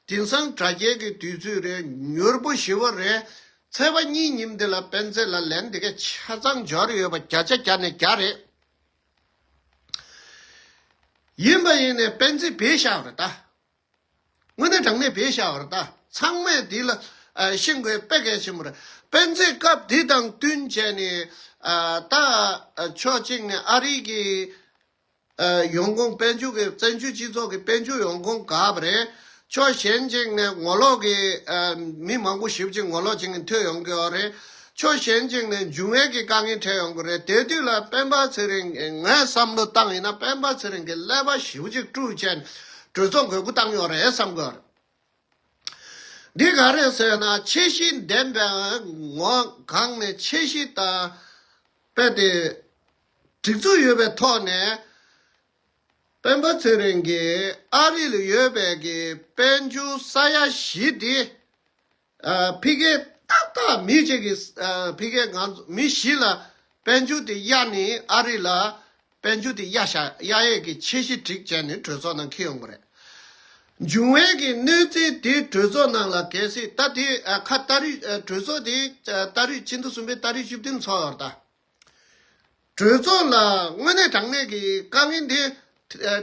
དེང་སང་དྲ་རྒྱའི་གི་དུས་ཚོད་རེད་མྱུར་པོ་ཞི་བ་རེད། ཚེས་པ་གཉིས་ཉིན་འདི་ལ་སྤེན་ཚེ་ལ་ལན་འདི་གའི་ཆ་ཚང་འབྱོར་ཡོད་པ་བརྒྱ་ཆ་བརྒྱ་ནས་བརྒྱ་རེད། ཡིན་པ་ཡིན་ནས་སྤེན་ཚེ་བེད་བཞག་རེད་ད། དངོས་གནས་དྲང་གནས་བེད་བཞག་བར་ད་ཚང་མས་འདི་ལ་ཤིན་དགོས་དཔེ་གལ་ཆེན་པོ་རེད། སྤེན་ཚེས་སྐབས་འདི་དང་བསྟུན་བྱས་ནས་ད་ཕྱོགས་གཅིག་ནས་ཨ་རིག་གི་ཡོང་ཁུངས་དཔལ་འབྱོར་གི་བཙན་བྱོལ་སྤྱི་ཚོགས་ཀྱི་དཔལ་འབྱོར་ཡོང་ཁུངས་ག་བ་རེད། ཕྱོགས་གཞན་གཅིག་ནས་ངོ་ལོག་གི་མི་མང་པོ་ཞིབ་ཅིག་ངོ་ལོག་བྱེད་མཁན་ཐོས་ཡོང་གི་ཡོད་རེད། ཕྱོགས་གཞན་གཅིག་ནས་འབྱུང་བའི་གི་དཀའ་ངལ་འཕྲད་ཡོང་གི་རེད་དེ་དུས་ལ་སྤེན་པ་ཚེ་རིང་གིས་ངས་བསམ་བློ་བཏང་ཡིན་ན་སྤེན་པ་ཚེ་རིང་གིས་ཀླད་པ་ཞིབ་ཅིག་བཀྲུས་བྱས་ནས་གྲོས་ཚོགས་དགོས་མཁོ་བཏང་ཡོད་རེད་བསམ་དགོས། འདི་ག་རེད་ཟེར་ན་ཆེ་བཞི་འདེམས་པའི་ངོས་གང་ནས་ཆེ་བཞི་ལྟ་སྤེལ་དེ་སྒྲིག་འཛུགས་ཡོད་པའི་ཐོག་ནས་སྤེན་པ་ཚེ་རིང་གིས་ཨ་རི་ལ་ཡོད་པའི་གི་དཔལ་འབྱོར་ས་ཡ་བཞི་དེ་ཕི་གེ་ཏག་ཏག་མི་གཅིག་གིས་ཕི་གེ་ང་ཚོ་མི་བཞི་ལ་དཔལ་འབྱོར་དེ་གཡར་ནས་ཨ་རི་ལ་དཔལ་འབྱོར་དེ་གཡར་ཤག་གཡར་ཡས་ཀྱི་ཆེ་གཞི་བསྒྲིགས་བྱས་ནས་གྲོས་ཚོགས་ནང་འཁེལ་ཡོང་གི་རེད། འབྱུང་བས་ཀྱི་གནོད་འཚེ་དེ་གྲོས་ཚོགས་ནང་ལ་གལ་སྲིད་ད་དེ་ཁ་ད་རུས་གྲོས་ཚོགས་དེ་ད་རུས་ཕྱི་ཟླ་གསུམ་པའི་ད་རུས་བཅུ་བདུན་འཚོགས་ཡོང་རྟ། གྲོས་ཚོགས་ལ་དངོས་གནས་དྲང་གནས་ཀྱི་དཀའ་ངལ་འདི།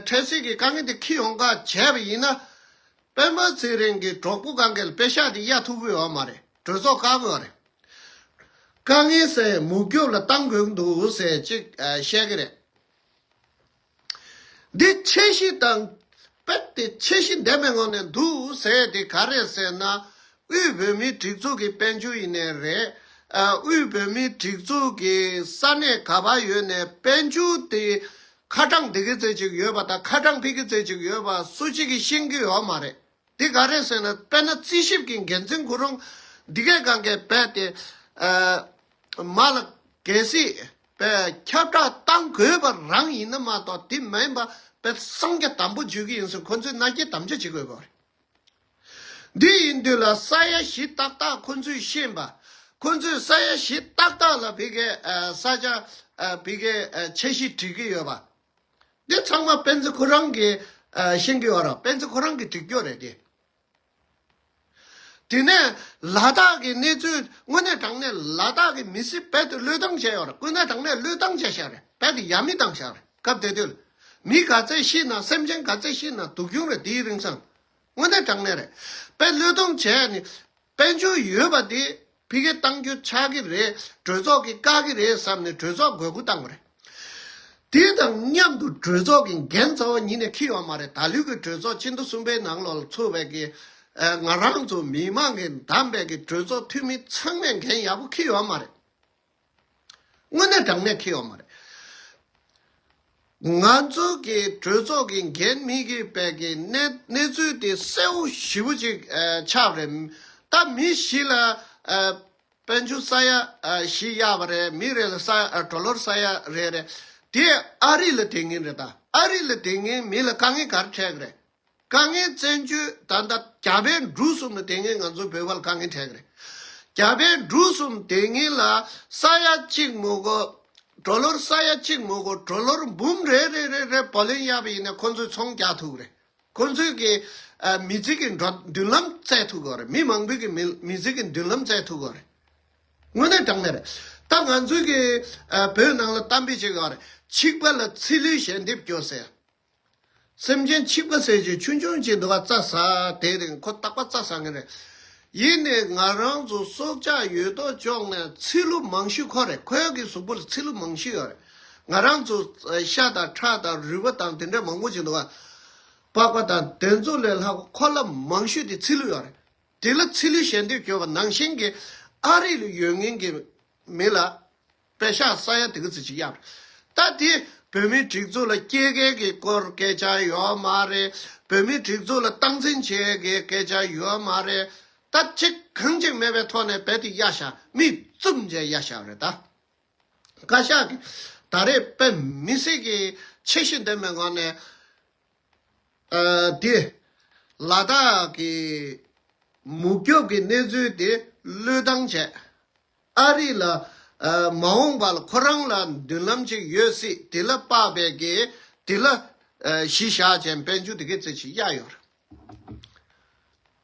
འཕྲལ་སེལ་གྱི་དཀའ་ངལ་འདི་ཁྱི་ཡོང་ཁ་བྱས་པ་ཡིན་ན། སྤེན་པ་ཚེ་རིང་གི་གྲོགས་པོ་གང་གཱའི་དཔེ་ཤག་འདི་གཡར་ཐུབ་དགོས་བ་མ་རེད་གྲོས་ཚོགས་བཀག་དགོས་བ་རེད། དཀའ་ངལ་སེལ་མུག་རྒྱོབ་ལ་བཏང་དགོས་ཀྱི་འདུག་ཟེར་ཅིག་བཤད་ཀྱི་རེད། འདི་ཆེ་བཞི་དང། དཔེ་དེ་ཆེ་བཞི་འདས་པའི་ངང་ནས་འདུག་ཟེར་ཡས་དེ་ག་རེད་ཟེར་ན། དབུས་བོད་མིའི་སྒྲིག་འཛུགས་ཀྱི་དཔལ་འབྱོར་ཡིན་ནས་རེད། དབུས་བོད་མིའི་སྒྲིག་འཛུགས་ཀྱི་ས་གནས་ག་པ་ཡོད་ནས་དཔལ་འབྱོར་དེ་ཁ་གྲངས་འདི་གི་རྩེ་གཅིག་ཡོད་པ་དང་ཁ་གྲངས་ཕིག་གི་རྩེ་གཅིག་ཡོད་པ་སུ་གཅིག་གིས་ཤེས་ཀྱི་ཡོད་མ་རེད། འདི་ག་རེད་ཟེར་ན་དཔལ་ན་རྩིས་ཞིབ་ཀྱི་འགན་འཛིན་གུ་རུང་འདི་གས་གང་གས་བས་དེ་མ་ལ་གལ་སྲིད་བས་ཁྱབ་བསྒྲགས་བཏང་དགོས་པ་རང་ཡིན་ན་མ་གཏོགས་དེ་མ་ཡིན་པ་བས་གསང་རྒྱ་དམ་པོ་བརྗོད་ཀྱི་ཡིན་ཟེར་ཁོང་ཚོས་མནའ་སྐྱེལ་དམ་བཅའ་བྱེད་དགོས་པ་རེད། འདི་ཡིན་དུས་ལ་ས་ཡ་བཞི་ཏག་ཏག་ཁོང་ཚོས་ཤེས་པ་ཁོང་ཚོས་ས་ཡ་བཞི་ཏག་ཏག་ལ་བས་གས་ས་ཆ་བས་གས་འཆར་གཞི་བྲིས་ཀྱི་ཡོད་པ་འདི་ཚང་མ་སྤེན་ཚེ་ཁོ་རང་གིས་ཤིང་གི་བ་ར་སྤེན་ཚེ་ཁོ་རང་གིས་བྲིས་སྐྱོ་རེད་དེ། དེ་ནས་ལ་དྭགས་ཀྱི་གནས་ཚུལ་དངོས་གནས་དྲང་གནས་ལ་དྭགས་ཀྱི་མི་སེར་བལ་དུ་བློས་བཏང་བྱས་ཡོད་རེད་དཀོན་ན་དྲང་གནས་བློས་བཏང་བྱས་ཤག་རེད་བལ་དུ་ཡ་མི་བཏང་ཤག་རེད་སྐབས་དེ་དུས་ལ། མི་ག་ཚད་ཤི་ན་སེམས་ཅན་ག་ཚད་ཤི་ན་དུག་གྱོང་རེད་དེའི་རིང་སང། དངོས་གནས་དྲང་གནས་རེད། དཔེ་བློས་གཏོང་བྱས་ནས་དཔེ་འཇུག་ཡོད་པ་དེ་ཕི་ཀའི་གཏང་རྒྱུ་ཆགས་ཀྱི་རེད་གྲོས་ཚོགས་ཀྱིས་བཀག་གི་རེད་བསམ་ནས་གྲོས་ཚོགས་དགོས་མཁོ་བཏང་བ་རེད། དེ་དང་མཉམ་དུ་གྲོས་ཚོགས་ཀྱི་འགན་རྩ་བ་ཉིད་ནས་འཁྱེར་ཡོང་མ་རེད་ད་ལུས་ཀྱི་གྲོས་ཚོགས་སྤྱི་མཐུ་གསུམ་པའི་ནང་ལོགས་ལ་ཚུད་བས་ཀྱི་ང་རང་ཚོ་མི་མང་གི་འདམས་པས་ཀྱི་གྲོས་ཚོགས་འཐུས་མི་ཚང་མས་འགན་ཡག་པོ་འཁྱེར་ཡོང་མ་རེད། དངོས་གནས་དྲང་གནས་ཁེལ་བ་མ་རེད། ང་ཚོ་གི་གྲོས་ཚོགས་ཀྱི་འགན་མི་དགོས་པའི་གི་གནས་ཚུལ་དེ་གསལ་བོ་ཞིབ་བོ་ཅིག་ཆགས་རེད། ད་མི་བཞི་ལ་དཔལ་འབྱོར་ས་ཡ་བཞི་གཡར་བ་རེད་མི་རེ་ལ་གྲོ་ལོར་ས་ཡ་རེ་རེད། དེ་ཨ་རི་ལ་དེ་ངན་རེད་ད་ཨ་རི་ལ་དེ་ངན་མི་ལ་དཀའ་ངལ་གར་འཕྲད་གི་རེད། དཀའ་ངལ་བཙན་བྱོལ་ད་ལྟ་རྒྱ་བལ་འབྲུག་གསུམ་ལ་དེ་ངས་ང་ཚོ་བོད་པར་དཀའ་ངལ་འཕྲད་ཀྱི་རེད། རྒྱ་བལ་འབྲུག་གསུམ་དེ་ངས་ལ་ས་ཡ་གཅིག་མོ་གོ་གྲོ་ལོར་ས་ཡ་གཅིག་མོ་གོ་གྲོ་ལོར་འབུམ་རེ་རེ་རེ་རེ་བོ་ལེན་ཡག་པ་ཡིན་ན་ཁོ་ཚོས་ཚོང་རྒྱག་ཐུབ་ཀྱི་རེད། ཁོ་ཚོས་ཀྱི་མི་ཚེ་ཀྱི་འགྲོ་མདུན་ལམ་བཙལ་ཐུབ་ཀྱི་རེད་མི་མང་པོས་ཀྱི་མི་མི་ཚེ་ཀྱི་མདུན་ལམ་བཙལ་ཐུབ་ཀྱི་རེད། དངོས་གནས་དྲང་གནས་རེད། ད་ང་ཚོས་ཀྱི་བོད་ནང་ལ་གཏམ་དཔེ་བྱེད་ཀྱི་རེད་ཆིག་པ་ལ་ཚི་ལུའི་ཞལ་འདེབས་སྐྱོ་ཟེར། སེམས་ཅན་འཆི་བ་ཟད་ཅིང་ཆུ་འབྱུང་བྱེད་འདུ་བ་རྩ་ཟ། དེའི་རིང་ཁོ་རྟག་པ་རྩ་ཟ་ངེས་རེད། ཡིན་ནས་ང་རང་ཚོ་སྲོག་ཆགས་ཡོད་དོ་ཅོག་ནས་ཚི་ལུ་མང་ཤོས་ཁོ་རེད་ཁོའི་གི་གཟུགས་པོ་ལ་ཚི་ལུ་མང་ཤོས་ཡོད་རེད། ང་རང་ཚོ་ཤ་དང་ཁྲག་དང་རུས་པ་དང་དེ་འདྲས་མང་པོ་བྱེད་འདུ་བ། པགས་པ་དང་དེ་ཚོ་ལས་ལྷག་པ་ཁོ་ལ་མང་ཤོས་དེ་ཚི་ལུ་ཡོད་རེད། དེ་ལ་ཚི་ལུས་ཞལ་འདེབས་བྱོས་པ་ནང་བཞིན་གྱི་ཨ་རི་ལ་ཡོད་ངེས་ཀྱི་མི་ལ། པད་ཤག་ས་ཡ་དེ་གི་ཚི་གཅིག་གཡར། ད་དེ་བོད་མིའི་སྒྲིག་འཛུགས་ལ་སྐྱེ་མཁན་གི་སྐོར་སྐད་ཆ་ཡོད་མ་རེད། བོད་མིའི་སྒྲིག་འཛུགས་ལ་སྟངས་འཛིན་བྱེད་མཁན་གི་སྐད་ཆ་ཡོད་མ་རེད། ད་ཅིག་གང་ཅིག་མེད་པའི་ཐོག་ནས་བལ་དེ་གཡར་ཤག་མིས་བཙུབ་མཇལ་གཡར་ཤག་རེད་ད། བཀའ་ཤག་གི་ད་རེ་བལ་མི་སེར་གི་ཆེ་བཞི་འདེམས་པའི་ངང་ནས་དེ་ལ་དྭགས་གི་མུག་སྐྱོབ་གི་གནས་ཚུལ་དེ་བློས་བཏང་བྱས། ཨ་རི་ལ། མ་འོངས་པ་ལ་ཁོ་རང་ལ་མདུན་ལམ་ཅིག་ཡོད་སྲིད་དེ་ལ་དཔག་པའི་དགེ། དེ་ལ། གཞི་བཞག་ཅན་དཔལ་འབྱོར་དེ་གའི་རྩེ་ཆེ་གཡག་ཡོད་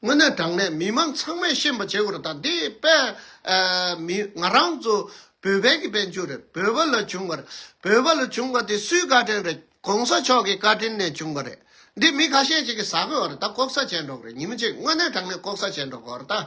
རེད། དངོས་གནས་དྲང་གནས་མི་མང་ཚང་མས་ཤེས་པ་བྱེད་དགོས་རེད་ད། དེ་དཔལ། མི། ང་རང་ཚོ། བོད་བལ་གྱི་དཔལ་འབྱོར་རེད་བོད་བལ་ལ་བྱུང་བ་རེད། བོད་བལ་ལ་བྱུང་བ་དེ་སུའི་བཀའ་དྲིན་རེད་གོང་ས་མཆོག་གི་བཀའ་དྲིན་ནས་བྱུང་བ་རེད། འདི་མི་ཁ་ཤས་ཅིག་གིས་ཟ་དགོས་བ་རེད་ད་ལྐོག་ཟ་བྱས་འགྲོ་གི་རེད་ཉིན་མོ་ཅིག་དངོས་གནས་དྲང་གནས་ལྐོག་ཟ་བྱས་འགྲོ་དགོས་བ་རེད་ད།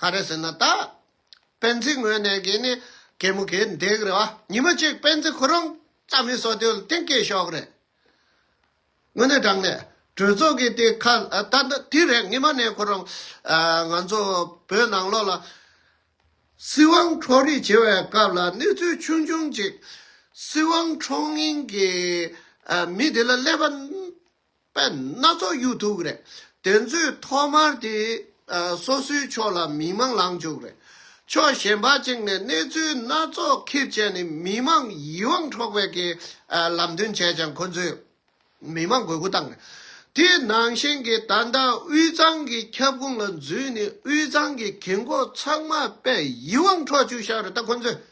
ག་རེ་ཟེར་ན་ད། སྤེན་ཚེའི་ངོས་ནས་གིས་ནི་གད་མོ་གད་འདེགས་རེད་བ། ཉི་མ་གཅིག་སྤེན་ཚེ་ཁོ་རང་རྩ་མི་སོ་དུས་ལ་དེང་སྐད་ཤོག་རེད། དངོས་གནས་དྲང་གནས་གྲོས་ཚོགས་ཀྱི་དེ་ཁ་ད་ད་དུས་རེད་ངེད་མ་ནས་ཁོ་རང། ང་ཚོ་བོད་ནང་ལོགས་ལ། སྲིད་དབང་འཕྲོག་རེས་བྱེད་པའི་སྐབས་ལ་གནས་ཚུལ་ཆུང་ཆུང་ཅིག། སྲིད་དབང་འཕྲོག་མཁན་གྱི་མི་དེ་ལ་གླེན་པ། པད་སྣ་ཚོགས་གཡུ་ཐུག་རེད། དེ་ཚོས་ཐོག་མར་དེ་སོ་སོའི་ཕྱོགས་ལ་མི་མང་ལངས་བཅུག་རེད། ཕྱོགས་གཞན་པ་གཅིག་ནས་གནས་ཚུལ་སྣ་ཚོགས་ཁེབས་བཅད་ནས་མི་མང་ཡིད་དབང་འཕྲོག་པའི་གི་ལམ་སྟོན་བྱས་ཀྱང་ཁོ་ཚོས་མི་མང་དགོས་མཁོ་བཏང་རེད། དེ་ནང་བཞིན་གི་ད་ལྟ་དབུས་གཙང་གི་ཁྱབ་ཁོངས་ལ་འཛུལ་ནས་དབུས་གཙང་གི་གི་མགོ་ཚང་མ་པད་ཡིད་དབང་འཕྲོག་བཅུག་ཤག་རེད་ད་ཁོ་ཚོས་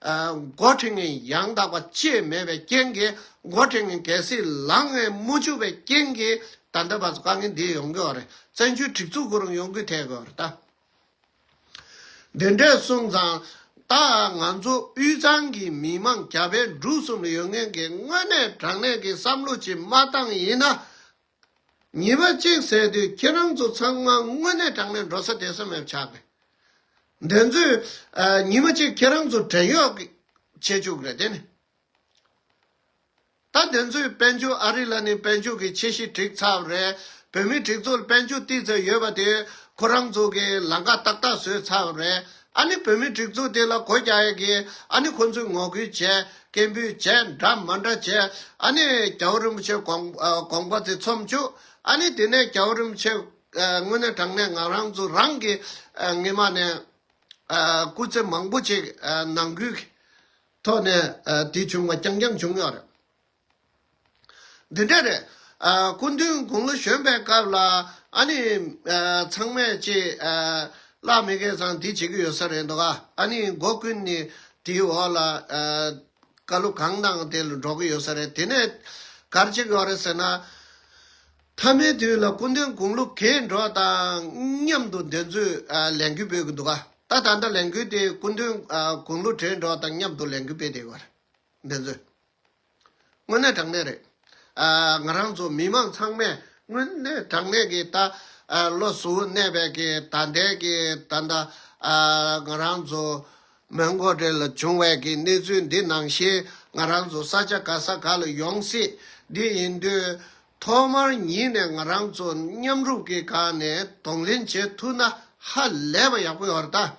མགོ་ཁྲིད་ངན་ཡང་དག་པ་བཅས་མེད་པའི་རྐྱེན་གྱིས་མགོ་ཁྲིད་ངན་གལ་སྲིད་ལག་ངན་དམུ་ཆུ་བའི་རྐྱེན་གྱིས་ད་འདོད་པ་དཀའ་ངལ་འདི་ཡོང་གི་འོ་རེད་བཙན་བྱོལ་སྒྲིག་འཛུགས་གོ་རིམ་ཡོང་གི་ཐལ་གི་འོ་རེད་ད། འདི་འདྲའི་གསུང་ཚང་ད་ང་ཚོ་དབུས་གཙང་གི་མི་དམངས་རྒྱ་བལ་འབྲུག་གསུམ་ཡོད་ངན་གྱི་དངོས་གནས་དྲང་གནས་ཀྱི་བསམ་བློ་གྱི་མ་བཏང་ཡིན་ན། ཉེས་པ་གཅིག་བསལ་དུས་ཁྱེད་རང་ཚོ་ཚང་མ་དངོས་གནས་དྲང་གནས་འགྲོ་ས་དེ་སེམས་ཡབ་ཆགས་ནས། འདི་ཚོས་ཉིན་མ་གཅིག་ཁྱེད་རང་ཚོ་བྲན་གཡོག་གི་བྱེད་བཅུག་རེད་དེ་ནི། ད་འདི་ཚོས་དཔལ་འབྱོར་ཨ་རི་ལ་ནི་དཔལ་འབྱོར་གྱི་ཆེ་གཞི་བསྒྲིགས་ཚར་རེད་བོད་མི་སྒྲིག་ཚོགས་ལ་དཔལ་འབྱོར་ཏིག་ཙེ་ཡོད་པ་དེ་ཁོ་རང་ཚོ་གི་ལང་ཀ་ཏག་ཏག་བཟོས་ཚར་རེད་ཨ་ནི་བོད་མིའི་སྒྲིག་འཛུགས་དེ་ལ་གོ་རྒྱ་ཡག་གིས་ཨ་ནི་ཁོང་ཚོས་ངོ་རྒོལ་བྱས། སྐད་འབོད་བྱས་འདྲ་མ་འདྲ་བྱས། ཨ་ནི་རྒྱ་བོད་རིན་པོ་ཆེ་དགོངས་པ་དེ་ཚོམས་བཅུག། ཨ་ནི་དེ་ནས་རྒྱ་བོད་རིན་པོ་ཆེ་དངོས་གནས་དྲང་གནས་ངང་རང་ཚུགས་རང་གིས་ངེད་མ་ནས་སྐུ་ཚེ་མང་པོ་ཅིག་ནང་ཁུལ་གྱི་ཐོག་ནས་དེ་བྱུང་བ་རྐྱང་རྐྱང་བྱུང་ཡོད་རེད། འདི་འདྲ་རེད། སྐུ་མདུན་དགུང་ལོ་གཞོན་པའི་སྐབས་ལ་ཨ་ནི་ཚང་མས་ཅེས་བཀླགས་མེད་སྐད་གསང་འདི་བྱེད་ཀྱི་ཡོད་ས་རེད་འདུག་ཨ་ནི་མགོ་ཀུན་ནས་དེའི་འོག་ལ་བཀའ་སློབ་གང་གནང་དེ་ལ་འགྲོ་གི་ཡོད་ས་རེད་དེ་ནས་གར་ཅིག་ཡོང་རེད་ཟེར་ན། མཐའ་མའི་དུས་ལ་སྐུ་མདུན་དགུང་ལོ་གས་འགྲོ་དང་མཉམ་དུ་འདོན་ཚུལ་ལས་འགུལ་སྤེལ་གྱི་འདུག་ག་ད་ད་ལྟ་ལས་འགུལ་དེ་སྐུ་མདུན་དགུང་ལོ་བགྲེས་འགྲོ་དང་མཉམ་དུ་ལས་འགུལ་སྤེལ་བསྡད་ཡོད་ག་རེད་འདོན་ཚུལ། དངོས་གནས་དྲང་གནས་རེད། ང་རང་ཚོ་མི་མང་ཚང་མས་དངོས་གནས་དྲང་གནས་ཀྱི་ད་ལོ་གཟུ་བོ་གནས་པའི་ཀྱི་ད་ལྟའི་ཀྱི་ད་ལྟ་ང་རང་ཚོ་མོན་མགོ་དེ་ལ་བྱུང་བའི་ཀྱི་གནས་ཚུལ་འདི་ནང་བཞིན་ང་རང་ཚོ་ས་ཆ་ག་ས་ག་ལ་ཡོང་སྲིད་འདི་ཡིན་དུས་ཐོག་མར་ཉིད་ནས་ང་རང་ཚོ་མཉམ་རུབ་ཀྱི་སྒང་ནས་གདོང་ལེན་བྱེད་ཐུབ་ན་ཧ་ལས་པ་ཡག་པོ་ཡོད་རེད་ད།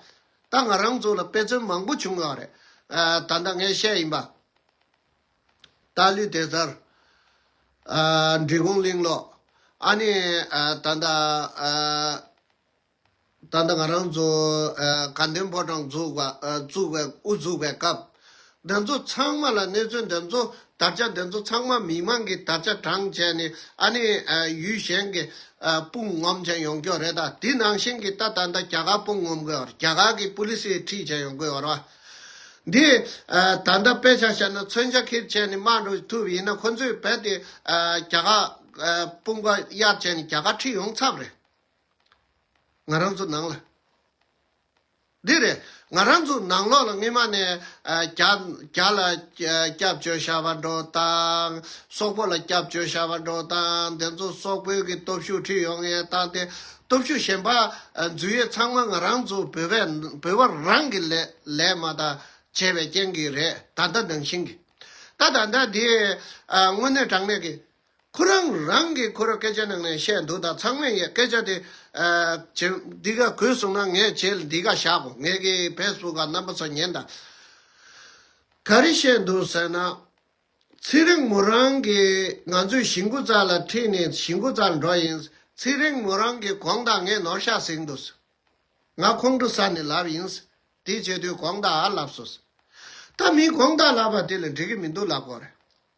ད་ང་རང་ཚོ་ལ་དཔེ་མཚོན་མང་པོ་བྱུང་ཡོད་རེད། ད་ལྟ་ངས་བཤད་ཡིན་པ། ད་ལུས་དེ་ཚར། འབྲི་གུང་གླིང་ལོག། ཨ་ནི། ད་ལྟ། ད་ལྟ་ང་རང་ཚོ། དགའ་ལྡན་ཕོ་བྲང་བཙུགས་པ། བཙུགས་པའི་དབུ་བཙུགས་པའི་སྐབས། འདི་ཚོ་ཚང་མ་ལ་གནས་ཚུལ་འདི་ཚོ་དར་ཆ་འདི་ཚོ་ཚང་མ་མི་མང་གི་དར་ཆ་གྲངས་བྱས་ནས་ཨ་ནི་ཡུལ་གཞན་གྱི་དཔུང་ངོམ་བྱེད་ཡོང་རྒྱུ་རེད་ད་དེ་ནང་བཞིན་གྱི་ད་ད་ད་རྒྱ་གར་དཔུང་ངོམ་དགོས་བར་རྒྱ་གར་གྱི་པུ་ལི་སི་ཡི་ཁྲིད་བྱེད་ཡོང་དགོས་བར་བ། འདི་ད་ད་དཔེ་ཆ་བཤད་ན་མཚོན་ཆ་ཁིར་བྱས་ནས་དམག་འགྲོ་ཐུབ་ཡིན་ན་ཁོ་ཚོས་བལ་དེ་རྒྱ་གར་དཔུང་པ་གཡར་བྱས་ནས་རྒྱ་གར་ཁྲིད་ཡོང་ཚབ་རེད། ང་རང་ཚོ་ནང་ལ། འདི་རེད། ང་རང་ཚོ་ནང་ལོགས་ལ་སྔོན་མ་ནས་རྒྱ་ལ་སྐྱབས་བཅོལ་ཤར་བ་འགྲོ་དང། སོག་པོ་ལ་སྐྱབས་བཅོལ་ཤར་བ་འགྲོ་དང་དེ་ཚོ་སོག་པོའི་གི་སྟོབས་ཤུགས་ཁྲིད་ཡོང་ངེས་དང་དེ་སྟོབས་ཤུགས་གཞན་པ་འཛུལ་ཡོད་ཚང་མ་ང་རང་ཚོ་བོད་པས་བོད་པ་རང་གི་ལས་མ་ད་བྱས་པའི་རྐྱེན་གི་རེད་ད་ལྟ་ནང་བཞིན་གི། ད་ད་ལྟ་འདི་དངོས་གནས་དྲང་གནས་གི། ཁོ་རང་རང་གིས་ཁོ་ར་སྐད་ཆ་ནང་ནས་བཤད་འདུག་ད་ཚང་མས་ཡས་སྐད་ཆ་དེ་ཇེ་འདི་ག་གུས་སོང་ན་ངས་ཇེ་འདི་ག་བཞག་གོ་ངས་གི་ཕེས་བུ་ག་རྣམ་པ་ཚོ་ཉན་ད་ག་རི་བཤད་འདུག་ཟེར་ན། ཚེ་རིང་མོ་རང་གིས་ང་ཚོས་གཞི་འགོ་རྩ་ལ་ཁྲིད་ནས་གཞི་འགོ་རྩར་འགྲོ་ཡིན་ཚེ་རིང་མོ་རང་གིས་གོང་ད་ངས་ནོར་ཤ་ཟིག་འདུག་ཟེར་ང་ཁོང་ཁྲོ་ས་ནས་ལབ་ཡིན་ཟེར་དེ་བྱེད་དུས་གོང་ད་ཨ་ལབ་སོ་ཟེར་ད་མིས་གོང་ད་ལབ་པ་དེ་ལ་འགྲིག་གི་མི་འདུག་ལབ་དགོས་རེད།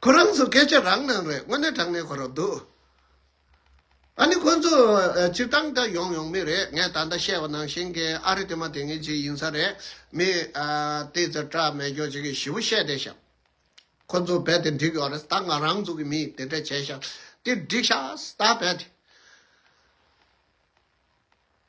ཁོ་རང་ཚོ་སྐད་ཆ་རང་ནང་རེད་དངོས་གནས་དྲང་གནས་གོ་རོགས་འདུག་ཨ་ནི་ཁོ་ཚོ་སྤྱིར་བཏང་ད་ཡོང་ཡོང་མི་རེད་ངས་ད་ལྟ་བཤད་པ་ནང་བཞིན་གྱི་ཨ་རི་དེ་མ་དེ་ངེད་ཅིག་ཡིན་ས་རེད་མི་དེ་ཚོ་སྐྲ་མེད་སྐྱོ་ཅིག་གིས་ཞི་བོ་བཤད་བསྡད་ཤག་ཁོ་ཚོ་རྦད་དེ་འགྲིག་ཡོག་རེད་ད་ང་རང་ཚོ་གི་མིས་དེ་འདྲ་བྱས་ཤག་དེ་འགྲིག་ཤག་ད་རྦད་དེ།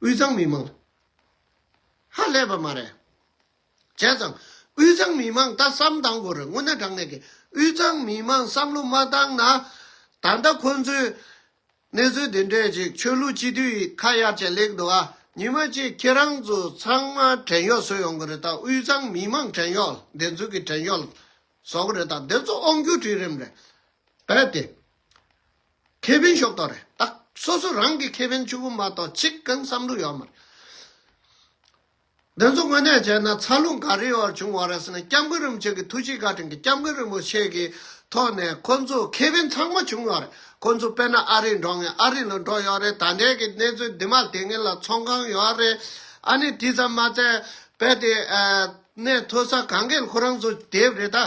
དབུས་གཙང་མི་མང་ཧ་ལས་པ་མ་རེད། བྱས་ཙང་དབུས་གཙང་མི་མང་ལྟ་བསམ་གཏང་དགོས་རེད་དངོས་གནས་དྲང་གནས་ཀྱི་དབུས་གཙང་མི་མང་བསམ་བློ་མ་གཏང་ན་ད་ལྟ་ཁོང་ཚོས་གནས་ཚུལ་འདི་འདྲས་ཅིག་ཆོས་ལུགས་སྤྱི་འཐུས་ཡིས་ཁ་གཡར་བྱས་ལེགས་འདུག་ཨ་ཉི་མ་གཅིག་ཁྱེད་རང་ཚོ་ཚང་མ་བྲན་གཡོག་བཟོས་ཡོང་གི་རེད་ད་དབུས་གཙང་མི་མང་བྲན་གཡོག་བདེན་རྫུན་གྱི་བྲན་གཡོག་བཟོ་གི་རེད་ད་བདེན་རྫུན་ཨོང་རྒྱུག་བྲིས་རིམ་རེད་བས་ཏེ། ཁེ་ཕན་ཤོག་ཐོག་རེད་ད། སོ་སོ་རང་གི་ཁེ་ཕན་ཆུ་བོ་མ་གཏོགས་གཅིག་གང་བསམ་བློ་ཡོད་མ་རེད། འདི་ཚོ་དངོས་གནས་བྱས་ན་ཚ་རླུང་ག་རེའི་འོག་བྱུང་བ་རེད་ཟེར་ན་སྐྱབས་མགོན་རིན་པོ་ཆེ་གི་ཐུགས་རྗེ་བཀའ་དྲིན་གྱི་སྐྱབས་མགོན་རིན་པོ་ཆེ་གི་ཐོག་ནས་ཁོ་ཚོ་ཁེ་ཕན་ཚང་མ་བྱུང་བ་རེད་ཁོ་ཚོ་དཔེར་ན་ཨ་རིར་འགྲོ་ངེས་ཨ་རི་ལ་འགྲོ་ཡོད་རེད་ད་འདྲའི་གི་གནས་ཚུལ་འདི་མ་དེ་ངེས་ལ་ཚོང་ཁང་ཡོད་རེད་ཨ་ནི་དེ་ཙམ་མ་ཚད་དཔལ་དེ་ནས་མཐོ་ས་གངས་རྒན་ཁོ་རང་ཚོ་དེབ་རེད་ད།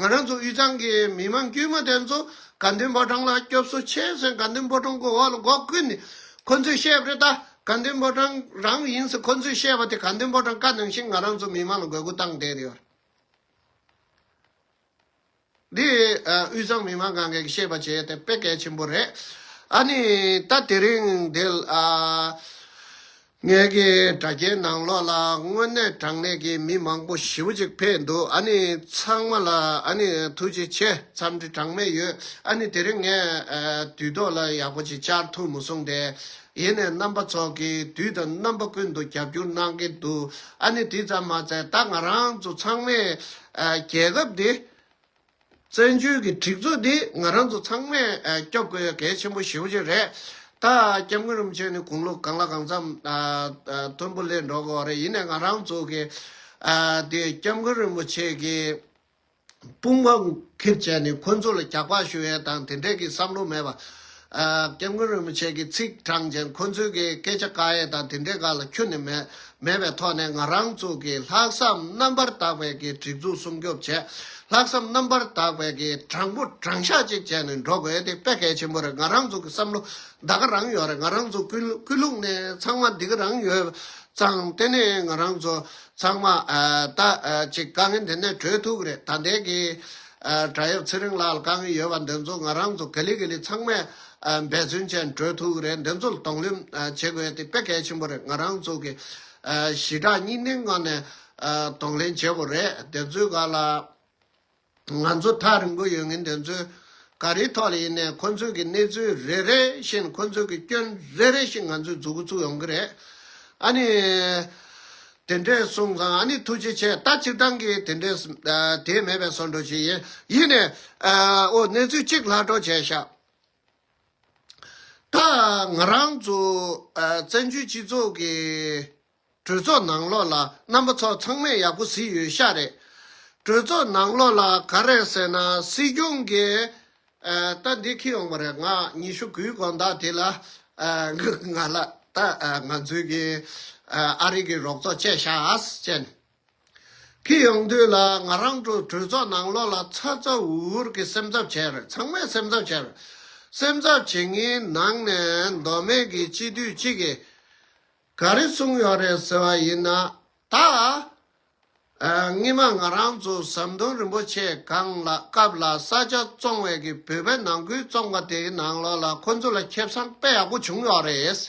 ང་རང་ཚོ་དབུས་གཙང་གི་མི་དམངས་དཀྱུས་མ་དེ་ཚོ་དགའ་འདུན་ཕོ་བྲང་ལ་སྐྱོབ་གསོ་བྱས་ཟེར་དགའ་འདུན་ཕོ་བྲང་གི་འོག་ལ་སྒོ་ཀུན་ནས་ཁོ་ཚོས་བཤད་རེད་ད་དགའ་འདུན་ཕོ་བྲང་རང་ཡིན་ཟེར་ཁོ་ཚོས་བཤད་པ་དེ་དགའ་འདུན་ཕོ་བྲང་བཀའ་གནང་བཞིན་ང་རང་ཚོ་མི་དམངས་ལ་དགོས་མཁོ་བཏང་བསྡད་ཡོད་རེད། འདི་དབུས་གཙང་མི་དམངས་གང་གཱས་བཤད་པ་བྱས་དེ་དཔེ་གལ་ཆེན་པོ་རེད། ཨ་ནི་ད་དེ་རིང་འདི་ལ། ངེད་ཀྱི་དྲ་རྒྱའི་ནང་ལོགས་ལ་དངོས་གནས་དྲང་གནས་ཀྱི་མི་མང་པོ་ཞེ་བོ་ཅིག་ཕེབས་འདུག་ཨ་ནི་ཚང་མ་ལ་ཨ་ནི་ཐུགས་རྗེ་ཆེ་འཚམས་འདྲི་གྲངས་མེད་ཡོད་ཨ་ནི་དེ་རིང་ངས་དུས་ཐོག་ལ་ཡག་པོ་ཅིག་བཅར་ཐུབ་མ་སོང་དེ་ཡེ་ནས་རྣམ་པ་ཚོགས་ཀྱིས་དུས་དང་རྣམ་པ་ཀུན་ཏུ་རྒྱབ་སྐྱོར་གནང་གི་འདུག་ཨ་ནི་དེ་ཙམ་མ་ཚད་ད་ང་རང་ཚོ་ཚང་མས་རྒྱལ་ཁབ་འདི། བཙན་བྱོལ་གྱི་སྒྲིག་འཛུགས་འདི་ང་རང་ཚོ་ཚང་མས་སྐྱོབ་དགོས་གལ་ཆེན་པོ་ཞེ་བོ་ཅིག་རེད། ད་སྐྱབས་མགོན་རིན་པོ་ཆེ་ནི་དགུང་ལོ་གང་ལ་གང་འཚམས་མཐོན་པོ་སླེབས་འགྲོ་གི་རེད་ཡིན་ནའི་ང་རང་ཚོ་གི་དེ་སྐྱབས་མགོན་རིན་པོ་ཆེ་གི་དཔུང་པ་འཁེལ་བྱས་ནས་ཁོ་ཚོ་ལ་གྱག་པ་ཞུ་ཡས་དང་དེ་འད་ཀྱི་བསམ་བློ་མེད་པ། སྐྱབས་མགོན་རིན་པོ་ཆེ་གི་ཚིག་དྲངས་ཅན་ཁོ་ཚོའི་གི་སྐད་ཆ་དཀའ་ཡས་དང་དེ་འདྲས་ག་ལ་ཁྱོན་ནས་མེད་མེད་པའི་ཐོག་ནས་ང་རང་ཚོ་གི་ལྷག་བསམ་རྣམ་པར་དག་པའི་གི་སྒྲིག་འཛུགས་སྲུང་སྐྱོབ་བྱས་ལྷག་བསམ་རྣམ་པར་དག་པའི་གི་དྲང་པོ་དྲང་ཤག་ཅིག་བྱས་ནས་འགྲོ་དགོས་དེ་དཔེ་གལ་ཆེན་པོ་རེད་ང་རང་ཚོ་གི་བསམ་བློ་འདའ་གི་རང་ཡོད་རེད་ང་རང་ཚོ་ཀུན་ཀུན་ལུགས་ནས་ཚང་མ་འདི་གི་རང་ཡོད་ཙང་དེ་ནས་ང་རང་ཚོ་ཚང་མ་ད་ཅིག་དཀའ་ངལ་འདི་ནས་གྲོལ་ཐུག་གི་རེད་ད་ལྟའི་གི། བྲག་ཡབ་ཚེ་རིང་ལགས་ལ་དཀའ་ངལ་ཡོད་པ་འདི་ཚོ་ང་རང་ཚོ་ག་ལི་ག་ལི་ཚང་མས་འབད་བརྩོན་བྱས་ནས་གྲོལ་ཐུབ་ཀྱི་རེད་འདི་ཚོ་ལ་དོགས་སླེབས་བྱེད་དགོས་དེ་དཔེ་གལ་ཆེན་པོ་རེད་ང་རང་ཚོ་གི་ཞི་དྲག་གཉིས་སྣེའི་ངང་ནས་དོགས་ལེན་བྱེད་དགོས་རེད་དེ་ཚོའི་ག་ལ་ང་ཚོ་ཐག་རིང་པོ་ཡོད་ངེས་འདི་ཚོའི་ག་རེའི་ཐོག་ལ་ཡིན་ནའི་ཁོ་ཚོའི་གི་གནས་ཚུལ་རེ་རེ་བཞིན་ཁོ་ཚོའི་གི་སྐྱོན་རེ་རེ་བཞིན་ང་ཚོས་འཛུགས་ཀྱི་ཚུགས་ཡོང་གི་རེད་ཨ་ནི། དེ་འདྲས་གསུངས་ཙང་ཨ་ནི་ཐུགས་རྗེ་ཆེ་ད་སྤྱིར་བཏང་གི་དེ་འདྲས་དེ་མེད་པའི་སོར་འགྲོ་ཞིག་ཡིན་ཡིན་ནས་ཨོ་གནས་ཚུལ་གཅིག་ལྷག་སྒྲོག་བྱས་ཤག། ད་ང་རང་ཚོ་བཙན་བྱོལ་སྤྱི་ཚོགས་ཀྱི་གྲོས་ཚོགས་ནང་ལོགས་ལ་རྣམ་པ་ཚོ་ཚང་མས་ཡག་པོ་གཟིགས་ཡོད་ཤག་རེད། གྲོས་ཚོགས་ནང་ལོགས་ལ་ག་རེ་ཟེར་ན་སྲིད་སྐྱོང་གི་ད་འདི་ཁྱེད་ཡོང་པ་རེད་ང་ཉི་ཤུ་དགུའི་གོང་ཟླ་དེ་ལ་ང་ལ་ད་ང་ཚོའི་གི་ཨ་རིག་གི་རོགས་ཚོགས་བཅས་ཤཱས་ཅན་ཁྱེད་ཡོང་དུས་ལ་ང་རང་གྲོས་ཚོགས་ནང་ལོགས་ལ་ཚ་ཚ་འུར་འུར་གི་སེམས་འཚབ་བྱས་རེད་ཚང་མས་སེམས་འཚབ་བྱས་རེད་སེམས་འཚབ་བྱེད་ངའི་ནང་ནས་མདོ་སྨད་གི་སྤྱི་འཐུས་གཅིག་གིས། ག་རེ་གསུངས་ཡོད་རེད་ཟེར་བ་ཡིན་ན། ད་སྔི་མ་ང་རང་ཚོ་ཟམ་གདོང་རིན་པོ་ཆེ་གང་ལ་སྐབས་ལ་ས་ཆ་བཙོང་བས་ཀྱི་བོད་པའི་ནང་ཁུལ་བཙོང་པ་དེ་ཡི་ནང་ལོགས་ལ་ཁོ་ཚོ་ལ་ཁེབས་སམ་དཔེ་ཡག་པོ་བྱུང་ཡོད་རེད།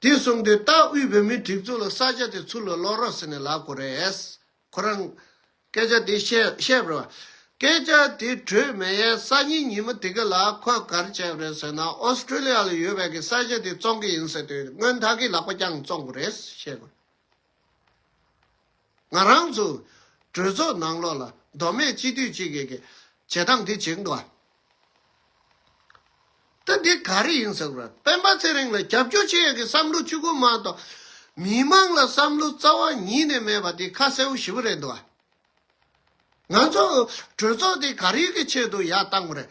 དེ་གསུངས་དུས་ལྟ་དབུས་བོད་མི་སྒྲིག་འཛུགས་ལ་ས་ཆ་དེ་ཚུར་ལ་ལོག་རོགས་ཟེར་ནས་ལབ་དགོས་རེད། ཁོ་རང། སྐད་ཆ་དེ་བཤད་བཤད་པར། སྐད་ཆ་དེ་དྲོད་མེ་ཡའི་སང་ཉིན་ཉིན་མོ་དེ་ག་ལ་ཁོས་གར་བྱས་པ་རེད་ཟེར་ན་ཨོ་སི་ཀྲི་ལི་ཡ་ལ་ཡོད་བས་ཀྱི་ས་ཆ་དེ་བཙོང་གི་ཡིན་ཟེར་དུས་སྔོན་ད་གིས་ལག་པ་རྐྱང་བཙོང་དགོས་རེད་བཤད་དགོས། ང་རང་ཚོས་གྲོས་ཚོགས་ནང་ལོགས་ལ་མདོ་སྨད་སྤྱི་འཐུས་གཅིག་གིས་ཀྱི་བྱེད་སྟངས་དེ་བྱེད་འདུག་ཨ། ད་འདི་ག་རེ་ཡིན་ཟེར་བ། སྤེན་པ་ཚེ་རིང་ལ་རྒྱབ་སྐྱོར་བྱེད་ཡག་གི་བསམ་བློ་བཅུ་གོ་མང་དང། མི་དམངས་ལ་བསམ་བློ་རྩ་བ་ཉིད་ནས་མེད་པ་དེ་ཁ་གསལ་བོ་ཞི་བོ་རེད་འདུག་ང་ཚོ་གྲོས་ཚོགས་དེ་ག་རེ་གི་ཆེད་དུ་ཡག་བཏང་བ་རེད།